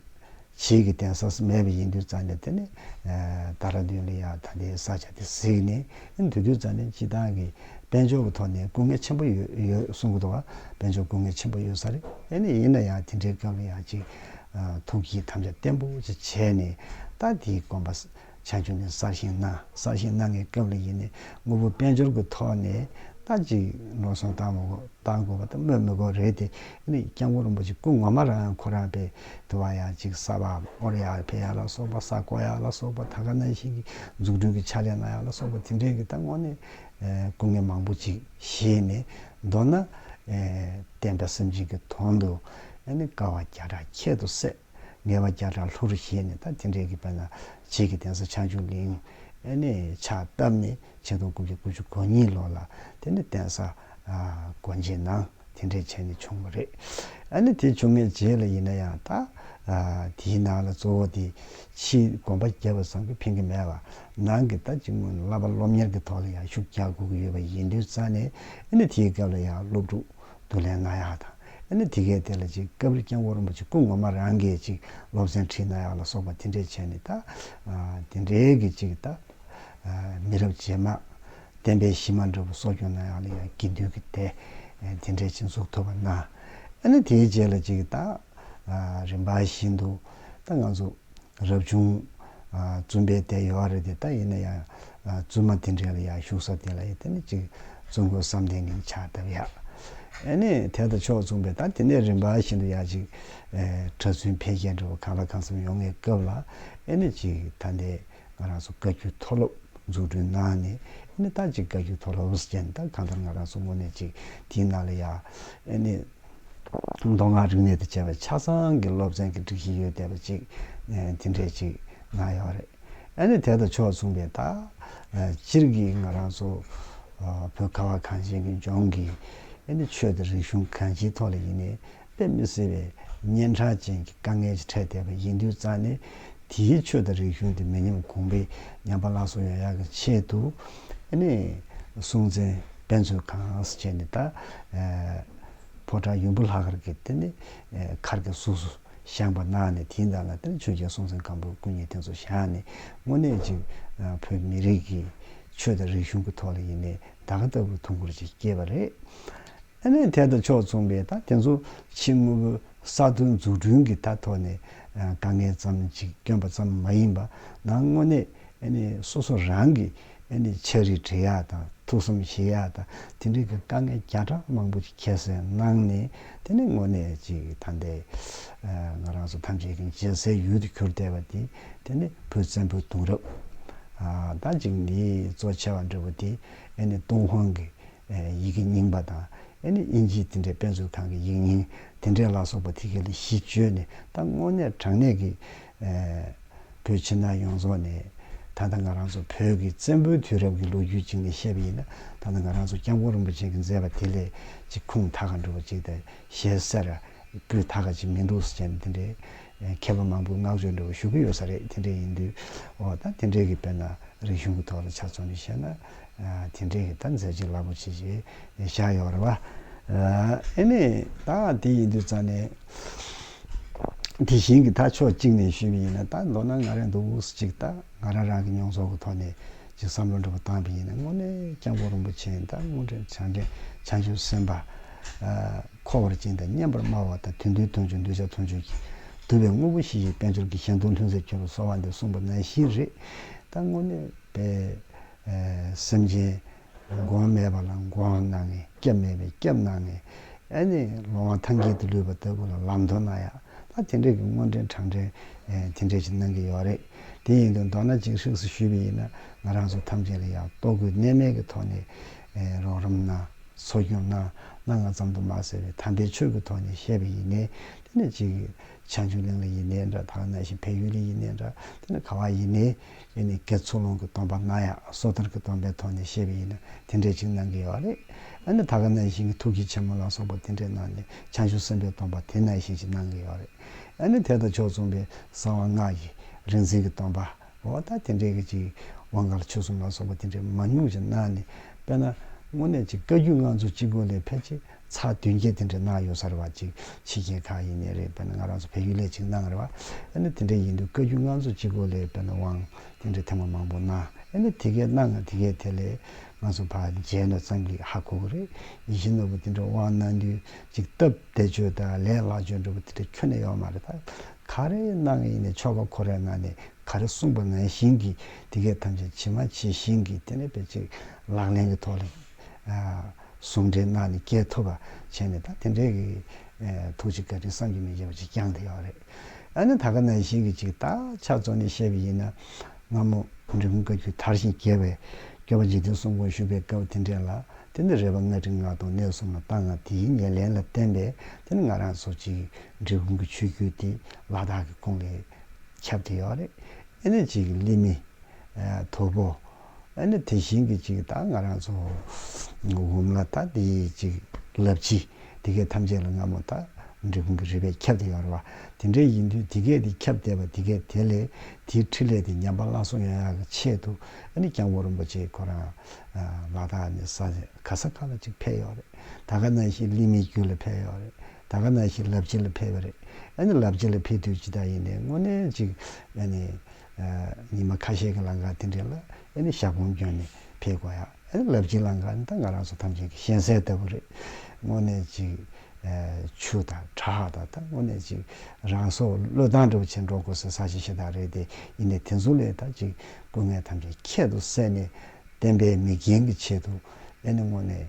བྱེས་ཀྱི་གདན་ས་སུ་མེད་པ་ཡིན་དུས་རྩ་ནས་དེ་ནི། ད་ར་དུས་ལ་ཡང་ད་ལྟའི་ས་ཆ་དེ་གཟིགས་ནས་འདུག་དུས་རྩ་ནས་སྤྱི་བཏང་གི་དཔལ་འབྱོར་གྱི་ཐོག་ནས་སྐུ་ངལ་ཆེན་པོ་ཡོད་གསུང་གི་འདུག་བ་དཔལ་འབྱོར་སྐུ་ངལ་ཆེན་པོ་ཡོད་ས་རེད་ཨེ་ནས་ཡིན་ན་ཡང་དེ་འདྲའི་སྐབས་ལ་ཡང་ཅིག། ཐུགས་ཀྱིས་དམ་བཅའ་བརྟན་པོ་ཅིག་བྱས་ནས་ད་དེའི་དགོངས་པ། བྱང་ཆུབ་ནི་གསར་བཞེངས་གནང། གསར་བཞེངས་གནང་མཁན་སྐབས་ལ་ཡིན་ནས་དངོས་པོ་དཔལ་འབྱོར་གྱི་ཐོག་ནས་ད་ཅིག་ནོར་སོང་བཏང་མི་བཏང་དགོས་པ་དེ་སྨོས་མི་དགོས་རེད་དེ། སྐྱབས་མགོན་རིན་པོ་ཆེ་སྐུ་ངོ་མ་རང་ཁོ་རང་པའི་དུ་བ་ཡང་ཅིག་གསར་པ་དབོར་ཡག་ཕེབས་ཡག་ལ་སོགས་པ་གསར་བསྐོ་ཡག་ལ་སོགས་པ་ད་ག་ནང་བཞིན་གྱི་འཛུགས་སྐྲུན་གྱི་ཕྱག་ལས་གནང་ཡག་ལ་སོགས་པ་དེ་འདྲའི་གི་ད་དངོས་གནས་སྐུ་ངལ་མང་པོ་ཅིག་བཞེས་ནས་མདོར་ན། བསྟན་པའི་སེམས་ཅན་གྱི་དོན་དུ་ཀ་བ་བརྒྱ་ཕྲག་ཁྱད་དུ་བསད། ངལ་བ་བརྒྱ་ཕྲག་ལྷུར་བཞེས་ནས་ད་ཐེངས་འབྲས་ཀྱི་དཔལ་ལ་བྱེད་ཀྱི་གདན་ས་ཆགས་འཇུག་གླིང་ནས་ཕྱག་བཏབ་ནས་ཆིག་སྟོང་དགུ་བརྒྱ་དགུ་ཅུ་གོ་གཉིས་ལོ་ལ་དེ་ནས་གདན་ས་སྒོ་འབྱེད་གནང་དེ་འབྲས་ཆད་ནས་བྱུང་བ་རེད། ཨ་ནི་དེ་བྱུང་ངས་རྗེས་ལ་ཡིན་ན་ཡང་ད་དེའི་ནང་ལ་གཙོ་བོ་དེ་ཕྱིའི་དགོན་པ་བརྒྱད་པ་ཚང་གི་ཕན་གི་མེད་བ་ནང་གི་ད་ཅིག་སྔོན་ལ་བསླབ་པ་སློབ་གཉེར་གྱི་ཐོག་ལ་ཡང་ཤུགས་རྒྱག་དགོས་ཀྱི་ཡོད་པ་ཡིན་དུས་རྩ་ནས་ཨ་ནི་དེའི་སྐབས་ལ་ཡང་སློབ་ཕྲུག་བསྡུ་ལེན་གནང་ཡག་དང་ཨེ་ན་དེ་གས་དེ་ལ་ཅིག་ཀ་བིར་སྐྱེ་འགོ་རིན་པོ་ཆེ་སྐུ་ངོ་མ་རང་གིས་ཅིག་སློབ་ཚན་ཁྲིད་ན་ཡག་ལ་སོགས་པ་དེ་འདྲས་བྱས་ནས་ད་དེ་འདྲས་ཀྱི་ཅིག་ད་མི་རབས་རྗེས་མ་བསྟན་པའི་གཞི་མ་འདྲ་བོ་གསོ་སྐྱོང་ན་ཡག་ལ་ཡང་དགེ་འདུན་གྱི་སྡེ་དེ་འདྲས་ཅིག་འཛུགས་ཐུབ་པ་ན་ཨེ་ན་དེའི་རྗེས་ལ་ཅིག་ད་རིམ་པ་བཞིན་དུ་ད་ང་ཚོ་རབ་བྱུང། བཙུན་པའི་སྡེ་ཡོད་རེད་དེ་ད་ཡིན་ན་ཡང་བཙུན་མ་དེ་འདྲས་ལ་ཡང་བཞུགས་ས་དེ་ལ་ཡང་དེ་ནས་ཅིག་བཙུན་དགོན་བསམ་གཏན་གྱི་ཕྱག་བཏབ་ཡག་ཨེ་ནས་དེ་ལྟ་ཆོག་བཙུན་པས་ད་དེ་ནས་རིམ་པ་བཞིན་དུ་ཡག་ཅིག་གྲྭ་བཙུན་འཕེལ་རྒྱས་འགྲོ་བ་གང་ལ་གང་འཚམ་ཡོང་ངེས་སྐབས་ལ་ཨེ་ནས་ཅིག་ད་འདས་ང་རང་ཚོ་བཀའ་བརྒྱུད་མཐོ་སློབ་འཛུགས་སྐྲུན་གནང་ནས་ཨེ་ནས་ད་ཅིག་བཀའ་བརྒྱུད་མཐོ་སློབ་ཅན་ད་གང་ལྟར་ང་རང་ཚོ་ངོ་ནས་ཅིག་དེའི་ནང་ལ་ཡག་ཨེ་ནས། མདོ་སྔགས་རིག་གནས་དང་བཅས་པའི་ཆ་ཚང་གི་སློབ་ཚན་གྱི་སྒྲིག་གཞི་ཡོད་བསྡད་པ་ཅིག་དེ་འདྲས་ཅིག་གནང་ཡོད་རེད། ཨ་ནི་དེ་དང་ཕྱོགས་མཚུངས་པའི་ད་སྤྱིར་གྱི་ང་རང་ཚོ་བོད་ཁ་བ་གངས་ཅན་གྱི་ལྗོངས་ཀྱི་ཨ་ནི་ཆོས་དང་རིག་གཞུང་གང་ཅིའི་ཐོག་ལ་ཡིན་ནས་དཔེ་མི་སྲིད་པའི་གཉན་འཕྲང་ཅན་གྱི་དཀའ་ངལ་ཅིག་འཕྲད་བསྡད་པ་ཡིན་དུས་རྩ་ནས་དེའི་ཆོས་དང་རིག་གཞུང་དེ་མི་ཉམས་གོང་འཕེལ་ཉམས་པ་ལགས་སོ་ཡོང་ཡག་གི་ཆེད་དུ། ཨེ་ནས་སྲོང་བཙན་དཔལ་མཚོས་གངས་སུ་བྱས་ནས་ད་ཕོ་བྲང་ཡུམ་བུ་ལྷ་མཁར་གྱི་དེ་ནས་མཁར་གྱི་གཟུགས་སུ་བཞེངས་པ་གནང་ནས་དེའི་ཟླ་ལ་ཆོས་རྒྱལ་སྲོང་བཙན་སྒམ་པོས་སྐུ་ཉིད་དེ་ཚོ་བཞག་ནས་དངོས་གནས་གཅིག་བོད་མི་རིགས་ཀྱི་ཆོས་དང་རིག་གཞུང་གི་ཐོག་ལ་ཡིན་ནས་ད་ག་ལྟ་བུའི་ཐུགས་འཁུར་ཅིག་སྐྱེས་པ་རེད། ཨ་མའི་ཐད་དུ་ཕྱོགས་མཚུངས་པའི་ད་དེ་ཚོ་ཕྱི་དངོས་པོའི་གསར་ཐོན་འཛུགས་སྐྲུན་གྱི་ད་ཐོག་ནས་དཀའ་ངལ་ཙམ་གཅིག་བསྐྱོན་པ་ཙམ་མ་ཡིན་པ་ན་དངོས་གནས་སོ་སོ་རང་གི་ཆ་རིག་འབྲི་ཡག་དང་ཐུགས་བསམ་ཞེས་ཡག་དང་དེ་འབྲེལ་གྱི་དཀའ་ངལ་བརྒྱ་ཕྲག་མང་པོ་ཅིག་ཁྱད་བསད་གནང་ནས་དེ་ནི་དངོས་གནས་ཅིག་ད་ལྟའི་ང་རང་ཚོ་ཐམས་ཅད་ཀྱི་མཇལ་སའི་ཡུལ་དུ་གྱུར་བསྡད་པ་དེ་དེ་ནི་བོད་བཙན་པོའི་དུང་རབས་ད་ཅིག་ནི་གཙོ་ཆེ་བ་འདྲ་བོ་དེ་ཏུང་ཧོང་གི་ཡི་གེ་རྙིང་པ་དང། དབྱིན་ཇིའི་དེ་འདྲའི་དཔེ་མཛོད་ཁང་གི་ཡིག་རྙིང་དེ་འདྲས་ལ་སོགས་པ་ཐིག་གེ་ལ་གཞི་བཅོལ་ནས་ད་དངོས་གནས་དྲང་གནས་ཀྱི། བོད་ཕྱི་ནང་ཡོངས་རྫོགས་ནས། ད་ལྟ་ང་རང་ཚོ་བོད་ཀྱི་བཙན་པོའི་དུས་རབས་ཀྱི་ལོ་རྒྱུས་གཅིག་ནས་བཤད་པ་ཡིན་ན་ད་ལྟ་ང་རང་ཚོ་སྐྱབས་མགོན་རིན་པོ་ཆེ་གི་མཛད་པ་དེ་ལས་གཅིག་ཁུངས་མཐའ་ཁ་འགྲོ་བ་གཅིག་དང་ཞལ་གསེར་སྤུས་མཐའ་ཁ་ཅིག་མི་འདུག་ཟེར་མཁན་དེ་འདྲས། མཁས་པ་མང་པོས་བསྔགས་བརྗོད་འདྲ་བོ་ཞུ་གི་ཡོད་ས་རེད་དེ་འདྲས་ཡིན་དུས། འོ་ད་དེ་འདྲས་ཀྱི་དཔེར་ན་རིག་གཞུང་གི་ཐོག་ལ་ཆ་མཚོན་ནས་བཤད་ན། དེ་འདྲའི་གི་ད་མཛད་ཅིག་ལ་པོ་ཆེ་ཞེས་བཞག་ཡོད་རེད་བ། ཨེ་ནས་ད་དེ་ཡིན་དུས་ཙང་ནས་དེ་བཞིན་གི་ད་ཕྱོགས་གཅིག་ནས་ཞུས་པ་ཡིན་ན་ད་མདོར་ན་ང་རང་འདུག་འུ་གཅིག་ད་ང་རང་རང་གི་མྱོང་ཚོར་གི་ཐོག་ནས་ཅིག་བསམ་བློ་འདྲི་བ་བཏང་པ་ཡིན་ན་དངོས་གནས་སྐྱབས་མགོན་རིན་པོ་ཆེ་ད་དངོས་འབྲེལ་བྱང་འདྲེན་བྱང་ཆུབ་སེམས་དཔའ་འཁོར་བར་བཅིངས་དང་སྙན་པར་སྨྲ་བ་དང་དུས་འདུལ་དོན་ཆུང་གདུལ་བྱ་དོན་ཆུང་གིས་བསྡུས་པའི་དངོས་པོ་བཞི་ཞེས་དཔལ་འབྱོར་གྱི་ཞེན་དུག་ལྷུན་རྩེར་གྱུར་བ་གསོ་བ་འདི་གསུངས་པ་ནང་བཞིན་རེད་ད་དངོས་གནས་དཔལ་སེམས་ཅན་མགོན་མེད་པ་ལ་མགོན་གནང་ངེ། སྐྱབས་མེད་པའི་སྐྱབས་གནང་ངེ། ཨེ་ནས་ལོང་བ་ཐང་གྱེས་དུ་ལུས་པ་ལྟ་བུ་ལ་ལམ་མདོར་ན་ཡག་ད་དེ་འདྲས་ཀྱི་སྔོན་འགྲན་གྲངས་འདྲེན་དེ་འདྲས་ཅིག་གནང་གི་ཡོད་རེད་དེ་ཡིན་དུ་མདོར་ན་གཅིག་ཧྲིགས་སུ་ཞུས་པ་ཡིན་ན་ང་རང་ཚོ་ཐམས་ཅད་ལ་ཡག་ལྟོ་གོས་གནས་མལ་གྱི་ཐོག་ནས་རོགས་རམ་གནང་འཚོ་སྐྱོང་གནང་གནང་ང་ཙམ་དུ་མ་ཟེར་བའི་དམ་པའི་ཆོས་ཀྱི་ཐོག་ནས་བཤད་པ་ཡིན་ནའི་དེ་ནས་གཅིག་ཆང་ཆུང་གླིང་ལ་ཡིན་ནའི་འདྲ་ཐང་ནང་བཞིན་བལ་ཡུལ་ལ་ཡིན་ནའི་འདྲ་དེ་ནས་ག་བ་ཡིན་ནའི། འདི་ནི་ཀེ་ཚུགས་ལུང་གི་སྟོང་པ་ང་ཡང་སོ་ཐར་གྱི་སྟོང་པའི་ཐོག་ནས་བཤད་པ་ཡིན་ན་དེ་འདྲའི་ཅིག་གནང་གི་ཡོད་རེད། ཨ་ནི་ད་ག་ནང་བཞིན་གྱི་ཐུགས་ཀྱི་ཆེན་མོ་ལ་སོགས་པ་དེ་འདྲས་གནང་ནས་བྱང་ཆུབ་སེམས་དཔའི་སྟོང་པ་དེ་ནང་བཞིན་ཅིག་གནང་གི་ཡོད་རེད། ཨ་ནི་དེ་དང་ཕྱོགས་མཚུངས་པའི་གསང་བ་སྔགས་ཀྱི་རིག་འཛིན་གྱི་སྟོང་པའོ་ད་དེ་འདྲས་ཀྱི་ཅིག་དབང་ག་ལ་ཆོས་གསུམ་ལ་སོགས་པ་དེ་འདྲས་མང་ཉུང་ཅིག་གནང་ནས་དཔེར་ན་དངོས་གནས་ཅིག་བཀའ་རྒྱུད་ལྔ་མཛོད་སྤྱི་སྒོ་ལས་ཕལ་ཆེར་ཚགས་བདུན་བརྒྱད་དེ་འདྲ་གནང་ཡོད་ས་རེད་བ་ཅིག་ཕྱི་རྒྱལ་ཁག་ཡིན་ནི་རེད་བས་ན་ང་རང་ཚོ་བལ་ཡུལ་ལས་ཅིག་གནང་རེད་བ་ཨེ་ནི་དེ་འདྲ་ཡིན་དུས་བཀའ་རྒྱུད་ང་ཚོ་སྤྱི་གོ་ལས་བས་ན་དབང་དེ་འདྲ་ཐེངས་མ་མང་པོ་གནང་ཨེ་ནི་དེ་གས་གནང་དེ་གས་དེ་ལས་ང་ཚོ་བ་མཇལ་ནོ་ཙང་གིས་ཧ་གོ་གི་རེད་ཡིད་བཞིན་ནོར་བུ་དེ་འདྲ་དབང་གནང་དུས་ཅིག་སྟབས་བདེ་བྱོས་ད་ལས་ལག་བྱོས་འགྲོ་བ་དེ་འདྲ་ཁྱོན་ནས་ཡོག་མ་རེད་ད་ག་རེ་གནང་གི་ཡིན་ནི་ཆོ་ག་ཁོ་རའི་ངང་ནས་ག་རེ་གསུངས་པ་ངན་བཞིན་གིས་དེ་གས་ཐམས་ཅད་ཇི་མ་ཇི་བཞིན་གིས་དེ་ནས་བས་ཅིག་ལག་ལེན་གི་ཐོག་ལས། ཟུང་འབྲེལ་ངང་ནས་སྐྱེལ་ཐུབ་པ་བྱས་ནས་ད་དེ་འདྲའི་ཐུགས་རྗེ་བཀའ་དྲིན་བསམ་གྱིས་མི་ཁྱབ་པ་ཅིག་བསྐྱངས་ཐུབ་ཡོད་པ་རེད། ཨ་ནི་ད་ག་ནང་བཞིན་གྱི་ཅིག་ད་ཕྱག་བཙོང་ནས་བཤད་པ་ཡིན་ན། སྔ་མོ་འབྲི་གུང་བཀའ་བརྒྱུད་དར་ཞིང་རྒྱས་པའི་སྐྱོ་བ་འཇིག་རྟེན་གསུམ་དགོངས་ཞུ་བའི་སྐབས་དེ་འདྲས་ལ་དེ་འདྲའི་རེ་བ་སྔ་དྲི་ང་གདོང་གནས་གསུམ་ལ་བཏང་ང་དེའི་ཉེར་ལེན་ལ་བརྟེན་པས་དེ་ནི་ང་རང་ཚོ་ཅིག་འབྲི་གུང་གི་ཆོས་བརྒྱུད་དེ་ལ་དྭགས་ཀྱི་ཁོངས་ལས་ཁྱབ་ཐུབ་ཡོད་པ་རེད། ཨེ་ནི་ཅིག་ཀླད་མེད། དོལ་པོ། ཨ་ནི་དེ་བཞིན་གྱི་ཅིག་ད་ང་རང་ཚོ་འོམ་ལ་ད་དེ་ཅིག་ལབ་ཅི་དེ་གས་ཐམས་ཅད་ལ་ང་མོ་ད་འབྲི་གུང་གི་རི་བས་ཁྱབ་དེ་ཡོང་རེ་བ་དེ་འདྲས་ཡིན་དུས་དེ་གས་དེ་ཁྱབ་བསྡད་པ་དེ་གས་དེ་ལས་དེའི་ཁྲི་ལས་དེ་ཉམས་པ་བླངས་སོང་ཡང་ཡང་གི་ཆེད་དུ་ཨ་ནི་སྐྱང་བོ་རིན་པོ་ཆེ་ཁོ་རང་ལ་ད་ནི་ས་ག་ས་ག་ལ་ཅིག་ཕེབས་ཡོང་རེད་ད་ག་ན་ཞིག་གླིང་མའི་རྒྱུད་ལ་ཕེབས་ཡོང་རེད་ད་ག་ན་ཞིག་ལབ་ཅི་ལ་ཕེབས་རེད་ཨ་ནི་ལབ་ཅི་ལ་ཕེབས་དུས་ཅི་ད་ཡིན་ནས་དངོས་གནས་ཅིག་ཨ་ནི་ཉི་མ་ཁ་ཤས་ཀྱི་ལང་ཀ་དེ་འདྲས་ལ་ཨེ་ནི་ཞག་གོང་བསྐྱོན་ནས་ཕེབས་དགོས་ཡ་ཨེ་ནི་ལབ་ཅིག་ལང་ཀ་ནི་ད་ང་རང་ཚོ་ཐམས་ཅད་ཀྱི་གཞན་སའི་ལྟ་བུ་རེད། དངོས་གནས་ཅིག་ཆུ་དང་གྲ་ཧག་དང་ད་དངོས་གནས་ཅིག་རང་སྲོག་བློས་བཏང་འདྲ་བོ་བྱེད་འགྲོ་དགོས་སའི་ས་ཞིག་ཞེ་ཐག་རེད་དེ་ཡིན་ནས་དེ་ཚོ་ལས་ད་ཅིག་སྐུ་ངལ་ཐམས་ཅད་ཁྱད་དུ་བསད་ནས་བསྟན་པའི་མིག་རྒྱན་གྱི་ཆེད་དུ་ཨེ་ནི་དངོས་གནས་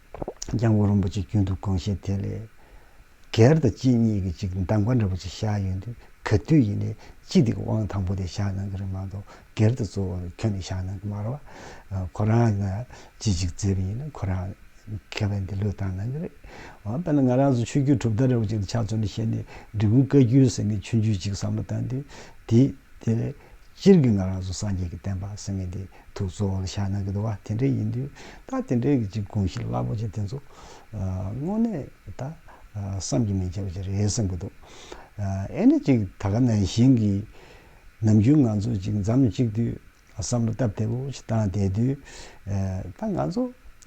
ལྗང་གུ་རིན་པོ་ཆེ་རྒྱུན་དུ་གང་བཞིན་དེ་ལས། གར་དང་གཅིན་སྙི་གི་གཅིག་འདམ་ག་འདྲ་པོ་ཅིག་བཞག་ཡོད་འདུག་ག་དུས་ཡིན་ནའི་གཅིག་དེ་གི་དབང་དང་པོ་དེ་བཞག་གནང་གི་རེད་མ་གཏོགས་གར་དུ་གཙོ་བོར་ཁྱོད་ནས་བཞག་གནང་གི་མ་རོགས། ཁོ་རང་ལ་ཅི་ཞིག་བརྩེ་བས་ཡིན་ན་ཁོ་རང་མཁས་པ་འདི་ལོས་བཏང་གནང་གི་རེད། འོ་དཔེར་ན་ང་རང་ཚོ་ཆོས་རྒྱུད་གྲུབ་མཐའ་འདྲ་པོ་ཅིག་ལ་ཕྱག་བཙོན་ནས་བཤད་ནས་འབྲི་གུང་བཀའ་བརྒྱུད་ཟེར་ནས་ཆོས་རྒྱུད་ཅིག་བསམ་བློ་བཏང་དུས་དེ་དེ་ལས་སྤྱིར་གྱི་ང་རང་ཚོ་སངས་རྒྱས་ཀྱི་བསྟན་པ་ཟེར་མཁན་དེ་དུ་གཙོ་བོར་བཞག་ན་འདུག་བ་དེ་འདྲའི་ཡིན་དུས་ད་དེ་འདྲའི་གྱི་དགོངས་གཞི་རླབས་པོ་ཆེ་དེ་ཚོ་དངོས་གནས་ད་བསམ་གྱི་མི་འཆའ་བ་ཅིག་རེད་བསམ་གྱི་འདུག་ཨེ་ནི་ཅིག་ད་ག་ནང་བཞིན་གྱི་ནམ་རྒྱུན་ང་ཚོ་ཅིག་འཛམ་གཅིག་དུས་བསམ་བློ་སྟབས་བདེ་བོ་ཅིག་བཏང་བསྡད་དུས་ད་ང་ཚོ་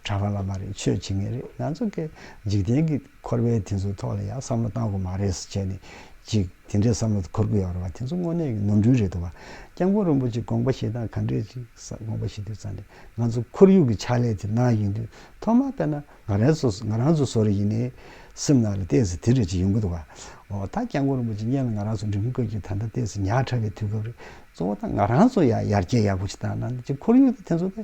གྲྭ་པ་ལ་མ་རེད་ཆོས་བྱེད་མཁན་རེད་ང་ཚོ་གི་འཇིག་རྟེན་གྱི། འཁོར་བའི་དེ་ཚོའི་ཐོག་ལ་ཡང་བསམ་བློ་བཏང་དགོས་མ་རེད་ཟེར་བྱས་ནས་ཅིག་དེ་འདྲའི་བསམ་བློ་འཁོར་དགོས་ཡག་རེད་བ་དེ་ཚོ་དངོས་གནས་ཀྱི་ནོར་འཁྲུལ་རེད་འདུག་བ། སྐྱབས་མགོན་རིན་པོ་ཆེ་དགོངས་པ་བཞེས་སྟངས་ག་འདྲས་ཅིག་ས་དགོངས་པ་བཞེས་དུས་ཙང་ནས་ང་ཚོ་འཁོར་ཡུག་གི་ཕྱག་ལས་དེ་གནང་ཡོད་དུས་ཐོག་མ་དཔེར་ན་ང་རང་ཚོ་ང་རང་ཚོ་བཟོ་རེ་ཡིན་ནའི་སེམས་ནང་ལ་བལྟས་ཟིན་དེ་འདྲས་ཅིག་ཡོང་གི་འདུག་བ། འོ་ད་སྐྱབས་མགོན་རིན་པོ་ཆེ་བརྙན་ལ་ང་རང་ཚོ་འགྲིམ་དགོས་ཀྱི་ད་ལྟ་བལྟས་ཟིན་ཉག་ཕྲ་བའི་དུས་སྐབས་རེད་གཙོ་བོ་ད་ང་རང་ཚོ་ཡང་ཡར་རྒྱས་ཡག་པོ་ཅིག་གཏང་གནང་འདུག་ཅིག་འཁོར་ཡུག་དེ་ཚོ་དེ་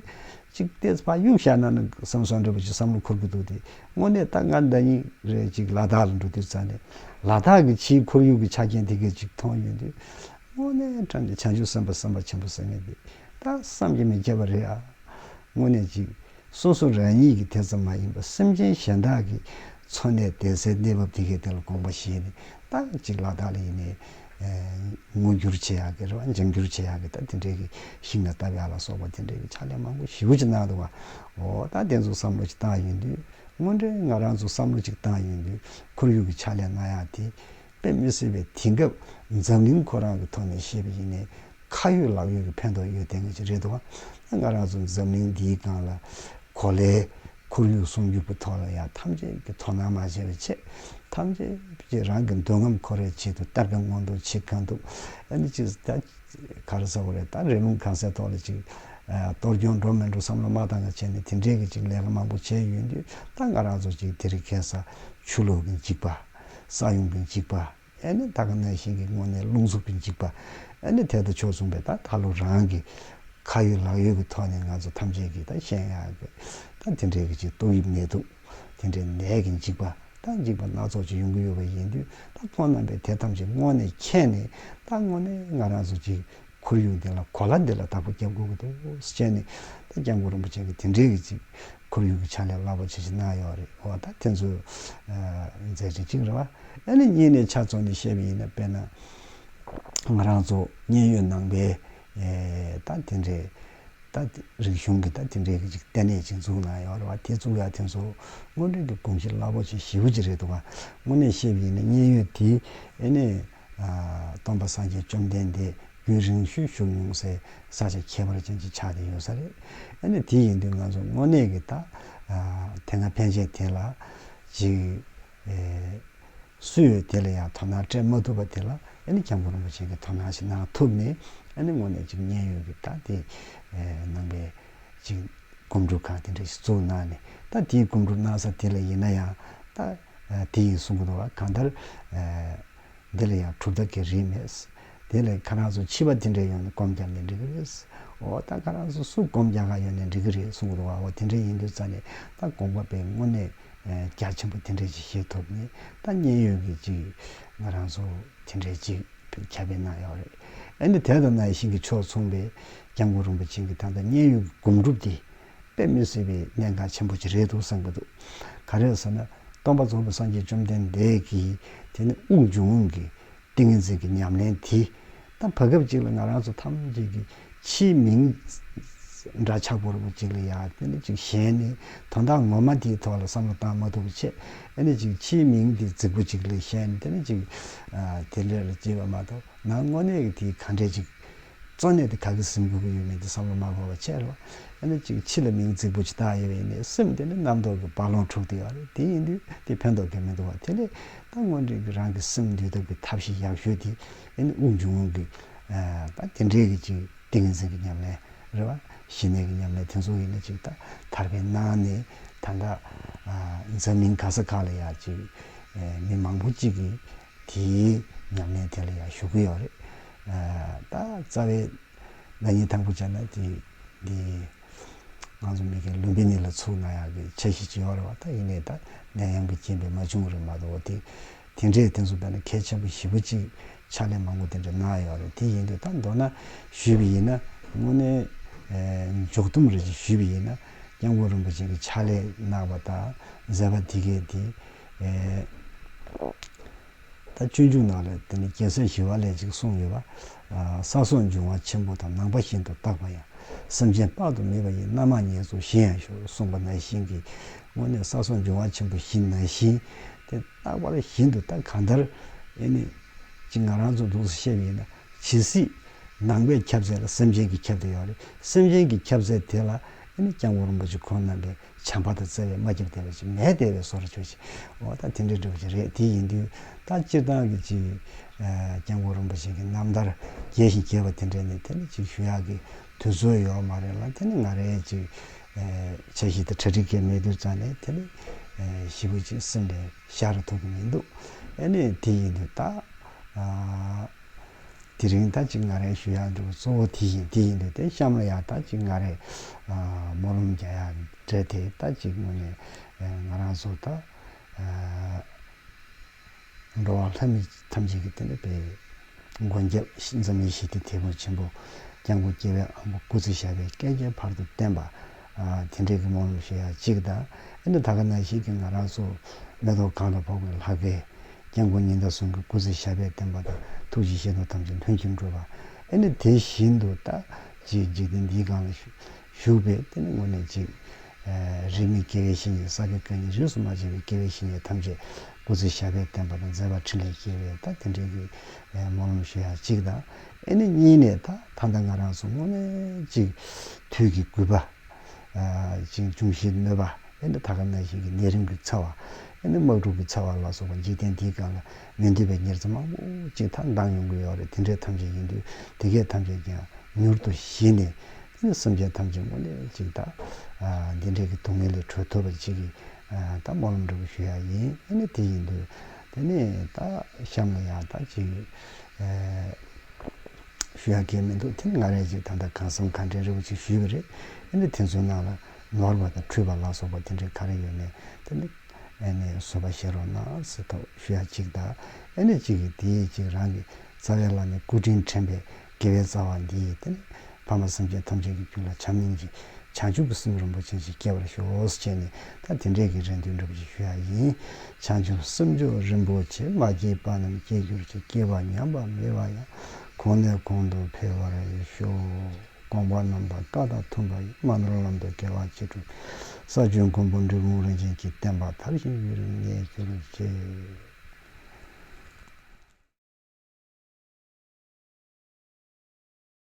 ཅིག་བལྟས་ཕ་གཡུག་བཞག་ན་ནི་བསམ་བསམ་འདྲ་པོ་ཅིག་བསམ་བློ་འཁོར་གི་འདུག་དེ་དངོས་གནས་ད་སྔ་འདྲ་ཉིན་རེ་གཅིག་ལ་དྭགས་ལ་འགྲོ་དུས་རྩ་ནས་ལ་དྭགས་ཀྱི་ཕྱིའི་ཁོར་ཡུག་གི་ཆ་རྐྱེན་དེ་སྐད་ཅིག་མཐོང་ཡོང་དུས། དངོས་གནས་ཕྲ་ནས་བྱང་ཆུབ་སེམས་དཔའ་སེམས་དཔའ་ཆེན་པོ་ཟེར་ངེས་འདི་ད་བསམ་གྱི་མི་ཁྱད་པར་རེད་ཨ། དངོས་གནས་གཅིག་སོ་སོ་རང་ཉིད་ཀྱི་དེ་ཙམ་མ་ཡིན་པར་སེམས་ཅན་གཞན་དག་གི་འཚོ་གནས་བདེ་གསལ་གནས་བབ་དེ་གའི་དེ་ལ་དགོངས་པ་བཞེས་ནས་ད་གཅིག་ལ་དྭགས་ལ་ཡིན་ནའི་སྔོ་འགྱུར་བྱེད་ཡག་གི་རེད་བ་འཇམ་འགྱུར་བྱེད་ཡག་གི་ད་དེ་འདྲའི་གི་ཤིང་ལ་བཏབ་ཡག་ལ་སོགས་པ་དེ་འདྲའི་གི་ཕྱག་ལས་མང་པོ་ཞིབ་ཀྱིས་གནང་འདུག་བ་འོ་ད་དེ་ཚོ་བསམ་བློ་ཅིག་བཏང་ཡོད་དུས་དངོས་འབྲེལ་ང་རང་ཚོ་བསམ་བློ་ཅིག་བཏང་ཡོད་དུས་ཁོར་ཡུག་གི་ཕྱག་ལས་གནང་ཡག་དེ་དཔེ་མི་སྲིད་པའི་དེང་སྐབས་འཛམ་གླིང་ཁོ་རང་གི་ཐོག་ནས་བཤད་པ་ཡིན་ནའི་ཁ་ཡོད་ལག་ཡོད་གི་ཕན་ཐོག་ཡོད་དེ་འང་ཅིག་རེད་འདུག་བ་ད་ང་རང་ཚོ་འཛམ་གླིང་འདིའི་སྒང་ལ་གོ་ལའི་ཁོར་ཡུག་སྲུང་སྐྱོབ་ཀྱི་ཐོག་ལ་ཡང་ཐམས་ཅད་ཀྱིས་དོ་སྣང་མ་བྱས་པའི་ཆེད་ཐམས་ཅད་ཀྱིས་རང་གི་འདོད་རྔམ་ཁོ་རའི་ཆེད་དུ་སྟར་ག་སྔོན་འགྲོ་བྱེད་ག་འདུག་ཨ་ནི་ཅིག་ད་ག་རེ་ཟེར་བ་རེད་ད་རེ་ལུང་གང་སའི་ཐོག་ལ་ཅིག་གཏོར་སྐྱོན་འགྲོ་མི་འགྲོ་བསམ་བློ་མ་བཏང་ན་བྱས་ནས་དེ་འབྲེལ་གྱི་ཅིག་ལས་ཀ་མང་པོ་བྱས་ཡོད་དུས་ད་ང་རང་ཚོ་ཅིག་དེ་རིགས་མཁས་ས་ཆུ་ལོག་གིན་ཅིག་པ་ས་ཡོང་གིན་ཅིག་པ། ཨེ་ནི་ད་ག་ན་བཞིན་གྱི་སྔོན་གནས་རླུང་གཟུགས་ཀྱི་འཇིགས་པ། ཨེ་ནི་དལ་དུ་ཕྱོགས་མཚུངས་པའི་ད་ད་ལོ་རང་གི། ཁ་ཡོད་ལག་ཡོད་ཀྱི་ཐོག་ནས་ང་ཚོ་ཐམས་ཅད་ཀྱིས་ད་ཤན་ཡག་གི། ད་དེ་འདྲའི་གྱི་ཏོག་དབྱིབས་ནད་དུག། དེ་འདྲའི་ནད་ཀྱི་འཇིགས་པ། ད་འཇིགས་པ་སྣ་ཚོགས་ཀྱི་ཡོང་གི་ཡོད་པ་ཡིན་དུས་ད་ཁོང་རྣམས་པས་དེ་ཐམས་ཅད་སྔོན་ནས་མཁྱེན་ནས་ད་སྔོན་ནས་ང་རང་ཚོ་གྱི། ཁོར་ཡུག་འདི་ལ་གོ་ལ་འདི་ལ་བདག་པོ་རྒྱབ་དགོས་ཀྱི་འདུག་ཅེས་ནས། ད་སྐྱབས་མགོན་རིན་པོ་ཆེ་གིས་དེ་འདྲའི་གྱི། ཁོར་ཡུག་གི་ཕྱག་ལས་སླ་པོ་བྱེད་བཞིན་གནང་ཡོད་རེད་འོ་ད་དེ་ཚོ་མཛད་རེད་གཅིག་རེད་བ། ཨ་ནི་གཉིས་ནས་ཕྱག་ཚོགས་ནས་བཤད་པའི་ཡིན་ན་དཔེར་ན་ང་རང་ཚོ་མཉན་ཡོད་ནང་པའི་ད་དེ་འདྲའི་ད་རིག་གཞུང་གི་ད་དེ་འདྲའི་གཅིག་ལྟེ་གནས་གཅིག་འཛུགས་གནང་ཡོད་རེད་བ་དེ་བཙུགས་ཡག་དེ་ཚོ་སྔོན་འགྲོའི་དགོངས་གཞི་སླ་པོ་བྱེད་ཞིའུ་ཅི་རེད་འདུག་བ་ངོ་ནས་བཤད་པའི་ཡིན་ན་མཉན་ཡོད་དེ་ཨ་ནི། སྟོང་པ་སངས་རྒྱས་བཅོམ་ལྡན་འདས་རྒྱུན་རིང་ཤོས་བཞུགས་མྱོང་སའི་ས་ཆ་ཁྱད་པར་ཅན་ཞིག་ཆགས་ཏེ་ཡོད་ས་རེད། ཨ་ནི་དེ་ཡིན་དུས་ང་ཚོ་དངོས་གནས་ཀྱི་ད་དེ་སྔ་ཕན་ཆད་དེ་ལ་ཅིག་སུས་ཡོད་དེ་ལ་ཡང་དོ་སྣང་སྤྲད་མ་ཐུབ་པ་དེ་ལ་ཨ་ནི་སྐྱབས་མགོན་རིན་པོ་ཆེ་གིས་དོ་སྣང་ཞིག་གནང་ཐུབ་ནས་ཨ་ནི་དངོས་གནས་ཅིག་མཉན་ཡོད་ཀྱི་ད་དེ་ནང་པའི་ཅིག་སྒོམ་སྒྲུབ་ཁང་དེ་འདྲ་ཞིག་བཙུགས་གནང་ནས་ད་དེའི་སྒོམ་སྒྲུབ་གནང་ས་དེ་ལ་ཡིན་ན་ཡང་ད། དེ་ཡིས་གསུངས་གདུང་བ་གང་ལྟར། འདི་ལ་ཡང་གྲུབ་མཐའ་གྱི་རིས་མེད། དེ་ལས་ཁ་རང་ཚོ་འཆི་བ་དེ་འདྲའི་ཡོང་ནས་སྐོམ་རྒྱག་ནས་འགྲིག་གི་རེད། འོ་ད་ཁ་རང་ཚོ་སུ་སྐོམ་རྒྱག་ག་ཡོང་ནས་འགྲིག་གི་རེད་གསུངས་གདུང་བའོ་དེ་འདྲའི་ཡིན་དུས་རྩ་ནས་ད་དགོངས་པ་པའི་དངོས་གནས་རྒྱ་ཆེན་པོ་དེ་འདྲའི་ཞིག་བཤད་ཐུབ་ནི་ད་མཉན་ཡོད་གི་ཅིག་ང་རང་ཚོ་དེ་འདྲའི་ཅིག་ཁྱབ་སྤེལ་གནང་ཡོད་རེད། ཨ་ནི་དེ་ལྟར་ན་ཡེ་ཤེས་ཀྱི་ཕྱོགས་མཚུངས་པའི་སྐྱབས་མགོན་རིན་པོ་ཆེ་གི་ད་ལྟ་མཉན་ཡོད་ཀྱི་སྒོམ་སྒྲུབ་དེ་དཔེ་མི་སྲིད་པའི་གནད་འགག་ཆེན་པོ་ཞིག་རེད་འདུག་བསམ་གྱི་འདུག་ག་རེད་ཟེར་ན། སྟོང་པ་རྫོགས་པའི་སངས་རྒྱས་བཅོམ་ལྡན་འདས་ཀྱིས་དེ་ནི་དབུགས་འབྱུང་རུང་གི་ཏིང་ངེ་འཛིན་གྱི་ཉམས་ལེན་དེ་དང་བར་སྐབས་གཅིག་ལ་ང་རང་ཚོ་ཐམས་ཅད་ཀྱི་ཕྱིའི་མིང་འདྲ་ཆགས་པོར་བུ་གཅིག་ལ་ཡ་དེ་ནི་ཅིག་གཞན་ནི་དོན་དག་ངོ་མ་དེའི་ཐོག་ལ་བསམ་བློ་བཏང་མ་ཐུབ་པ་ཆེ་ཨེ་ནི་ཅིག་ཕྱིའི་མིང་དེ་རྫིག་པོ་གཅིག་ལས་གཞན་དེ་ནི་ཅིག་དེ་འདྲ་ལ་བརྗེད་པ་མ་གཏོགས་ནང་དངོས་གནས་ཀྱི་དེའི་ག་འདྲས་ཅིག་གཙོ་གནད་དེ་ག་གི་སེམས་འགུལ་གྱི་ཡོད་མེད་ཀྱི་བསམ་བློ་མ་འཁོར་བ་བྱས་རོགས། ཡང་ན་གཅིག་ཕྱི་ལ་མིང་རྫིག་པོ་ཇི་ལྟར་ཡོད་པ་ཡིན་ནའི་སེམས་དེ་ནི་རྣམ་རྟོག་གི་རྦ་ཀློང་འཁྲུག་བསྡད་པ་རེད་དེ་ཡིན་དུས་དེ་ཕན་ཐོགས་ཀྱི་མི་འདུག་བ་དེ་ལས་ད་སྔོན་འགྲིག་གི་རང་གི་སེམས་འདུལ་ཐབས་ཀྱི་ཐབས་ཤེས་ཡག་ཤོས་དེ་ཡིན་ནི་དབུགས་འབྱུང་ཀྱི་ད་དེ་འདྲའི་གི་ཅིག་ཏིང་ངེ་འཛིན་གྱི་ཉམས་ལེན་རེད་བ། ཞི་གནས་ཀྱི་ཉམས་ལེན་དེ་ཚོ་ཡིན་ན་ཅིག་ད་ཐར་པའི་ནང་ནས་ད་ལྟ་འཛམ་གླིང་ག་ས་ག་ལ་ཡང་ཅིག་མི་མང་པོ་ཅིག་གིས། དེའི་ཉམས་ལེན་དེ་ལ་ཡང་ཞུགས་ཀྱི་ཡོད་རེད། ད་རྩ་བའི་བདག་ཉིད་དང་པོ་བྱས་ན་དེ་འདི་ང་ཚོ་མི་གི་ལུང་པའི་གནས་ལ་ཚུགས་ན་ཡང་དེ་འཆར་གཞི་ཅི་ཡོད་རེད་བ་ད་ཡིན་ནའི་ད་ནད་ཡམས་ཀྱི་རྐྱེན་པས་མ་བྱུང་རེད་མ་གཏོགས་བ་དེ་དེ་འདྲའི་དེ་ཚོ་བས་ན་གལ་ཆེན་པོ་བཞི་པོ་གཅིག་ཕྱག་ལེན་མང་པོ་དེ་འདྲ་གནང་ཡོད་རེད་དེ་ཡིན་དུས་ད་མདོར་ན་ཞུས་པ་ཡིན་ན་དངོས་གནས་མཇུག་བསྡོམས་རེ་ཞུས་པ་ཡིན་ན་སྐྱབས་མགོན་རིན་པོ་ཆེན་གྱི་ཕྱག་ལས་གནང་བ་དང་མཛད་པ་དེ་གའི་དེ། ད་སྤྱོད་འཇུག་ནང་ལས་དེ་ནི་རྒྱལ་སྲས་ཞི་བ་ལས་ཅིག་གསུངས་ཡོད་པ། ས་སོགས་འབྱུང་བ་ཆེན་པོ་དང་ནང་པ་བཞིན་དུ་བརྟགས་པ་ཡང་སེམས་ཅན་དཔག་ཏུ་མེད་པ་ཡི་རྣལ་མ་ཉིད་སོགས་གཞི་ཡང་ཞུ་གསུངས་པ་ན་བཞིན་གྱི་སྔོན་ནས་ས་སོགས་འབྱུང་བ་ཆེན་པོ་བཞི་ན་བཞིན་དེ་རྟག་པར་བཞིན་དུ་བརྟགས་གང་ལྟར་ཨེ་ནི། གཅིག་ང་རང་ཚོ་འདུག་ས་ཤེས་པ་ཡིན་ན་ཇི་སྲིད་ནང་པའི་ཁྱབ་ཚད་ལ་སེམས་ཅན་གྱི་ཁྱབ་དེ་ཡོད་རེད་སེམས་ཅན་གྱི་ཁྱབ་ཚད་དེ་ལ་ཨེ་ནི་སྐྱབས་མགོན་རིན་པོ་ཆེ་ཁོང་རྣམ་པས། བྱམས་པ་དང་བརྩེ་བའི་སྨྲ་སྐྱབས་དད་པའི་ཕྱིར་མས་དད་པའི་སོ་ར་ཆོས་བྱེད། འོ་ད་དེ་འདྲའི་འབྲེལ་བ་ཅིག་རེད་དེ་ཡིན་དུས་ད་སྤྱིར་བཏང་གི་ཅིག། སྐྱབས་མགོན་རིན་པོ་ཆེ་གི་རྣམ་ཐར་རྒྱས་ཤིང་རྒྱས་པ་དེ་འདྲས་ནི་དེ་ནི་ཅིག་ཞུ་ཡག་གི་དུས་ཚོད་ཡོད་མ་རེད་ལ་དེ་ནི་ང་རེ་ཅིག། ཆ་ཤིག་ཏུ་གྲ་སྒྲིག་གི་མེད་དུས་ཙང་ནི་དེ་ནི། ཞི་བུ་ཅིག་སེམས་ལས་ཤར་ཐུབ་ཀྱི་མི་འདུག་ཨེ་ནས་དེ་ཡིན་དུས་ད། དེ་རིང་ད་ཅི་ང་རེ་ཞུ་ཡག་འདུག་གཙོ་བོ་དེ་ཡིན་དེ་ཡིན་འདུག་དེ་གཤམ་ལ་ཡང་ད་ཅི་ང་རེ་སྨོན་ལམ་རྒྱག་ཡག་འདྲ་དེ་ད་ཅི་དངོས་ནས་ང་རང་ཚོ་ད་འགྲོ་བ་ལྷ་མི་ཐམས་ཅད་ཀྱི་སྟེང་ནས་པའི་མགོན་སྐྱབས་འཛམ་གླིང་ཞི་བདེ་དེ་བོ་ཆེན་པོ་སྐྱབས་མགོན་སྐྱེ་བའི་ཨ་མགོ་སྐུ་ཚེ་ཞབས་པའི་བསྐལ་བརྒྱའི་བར་དུ་བརྟན་པ་དེ་འདྲའི་གི་མང་རུ་ཞེས་ཡང་གཅིག་གདའ། ཨེ་འདྲ་ད་ག་ན་ཞིག་གིས་ང་རང་ཚོ་མེ་ཏོག་གང་ལ་ཕོག་པའི་ལྷ་སྐལ། སྐྱབས་མགོན་ཉི་ཟླ་ཟུང་གི་སྐུ་ཚེ་ཞབས་པད་བརྟན་པ་དང་ཐུགས་རྗེ་ཆེ་མདོག་ཐམས་ཅད་ལྷུན་གྱིས་འགྲུབ་པ། ཨེ་འདྲ་དེ་བཞིན་དུ་ད་ཅིག་འཇིག་རྟེན་འདིའི་སྒང་ལ་བཞུགས་པའི་དེ་ནི་ངོ་ནས་ཅིག། རིས་མེད་དགེ་བའི་བཤེས་གཉེན་ས་དགེ་བཀའ་རྙིང་རིས་སུ་མ་ཆད་པའི་དགེ་བའི་བཤེས་གཉེན་ཐམས་ཅད་སྐུ་ཚེ་ཞབས་པད་བརྟན་པ་དང་མཛད་པ་ཕྲིན་ལས་སྐྱེལ་བའི་ད་དེ་འདྲའི་གི་མང་རུ་ཞེས་ཡང་གཅིག་གདའ། ཨེ་ནི་གཉིས་ནས་ད་ཐང་ད་ང་རང་སོ་སྔོ་ནས་ཅིག། དུས་ཀྱི་རྒུད་པ། ཅིང་འབྱུང་བཞིའི་གནོད་པ། ཨེ་ནི་ད་ག་ན་བཞིན་གྱི་ནད་རིམས་ཀྱི་ཚ་བ། ཨེ་ནི་དམག་འཁྲུག་གི་ཚ་བ་ལ་སོགས་པ་འཇིག་རྟེན་འདིའི་སྒང་ལ་མི་འདོད་པའི་ཉེར་འཚེ་མང་པོ་ཅིག་ད་ལྡང་ཡོང་གི་ཡོད་རེད་དེ་འདྲའི་ཐམས་ཅད་ཡིན་དུས་དེ་གས་ཐམས་ཅད་ཀྱང་མྱུར་དུ་ཞི་ནས། ཨེ་ནི་སེམས་ཅན་ཐམས་ཅད་སྔོ་ནས་ཅིག་ད། འདི་འདྲའི་གི་སྡུག་བསྔལ་ལས་གྲོལ་ཐུབ་པ་ཅིག་གི་ད་སྨོན་ལམ་འདྲ་པོ་ཞུ་ཡག་ཡིན་ཨེ་ནི་དེ་ཡིན་དུས་དེ་ནས་ད་གཤམ་ལ་ཡང་ད་ཅིག། ཞུ་ཡག་གི་མི་འདུག་དེ་སྔ་རེད་ཅིག་ད་ལྟ་གང་བསམ་གང་དྲན་རེད་པོ་ཅིག་ཞུས་པ་རེད་ཨ་ནི་དེ་ཚོའི་ནང་ལ་ནོར་བ་དང་འཁྲུལ་བ་ལ་སོགས་པ་དེ་འདྲའི་ག་རེ་ཡོད་མེད་དེ་ནི་ཨ་ནི་བཟོད་པ་བཞེས་རོགས་གནང་ཟེར་ཐོག་ཞུ་ཡག་ཅིག་ད་ཨ་ནི་ཅིག་གིས་དེའི་ཅིག་རང་གི་རྩ་བའི་ལ་ནས་སྐུ་དྲིན་དྲན་པའི་དགེ་བའི་རྩ་བ་འདིས་དེ་ནི་ཕ་མ་སེམས་ཅན་ཐམས་ཅད་ཀྱི་རྒྱུད་ལ་བྱམས་སྙིང་རྗེ་བྱང་ཆུབ་ཀྱི་སེམས་རིན་པོ་ཆེ་ཞིག་སྐྱེ་བར་ཤོག་ཅེས་ནས་ད་དེ་འབྲེལ་གྱི་རེ་འདུན་སྒྲུབ་ཀྱི་ཞུ་ཡ་ཡིན། བྱང་ཆུབ་སེམས་མཆོག་རིན་པོ་ཆེ་མ་སྐྱེས་པ་རྣམས་སྐྱེ་འགྱུར་གྱི་སྐྱེ་བ་ཉམས་པ་མེད་པ་ཡང་གོང་ནས་གོང་དུ་འཕེལ་བར་ཤོག། དགོངས་པ་རྣམས་དང་བཀའ་དང་མཐུན་པ་ཡིས་སྨོན་ལོར་ལམ་དུ་འགྲེལ་བ་ཅི་འགྲུབ་ས་བཅུའི་མགོན་པོ་འབྲི་གུང་རིན་ཆེན་གྱི་བསྟན་པ་དར་ཞིང་དབྱིག་རིམ་གནས་གྱུར་ཅིག།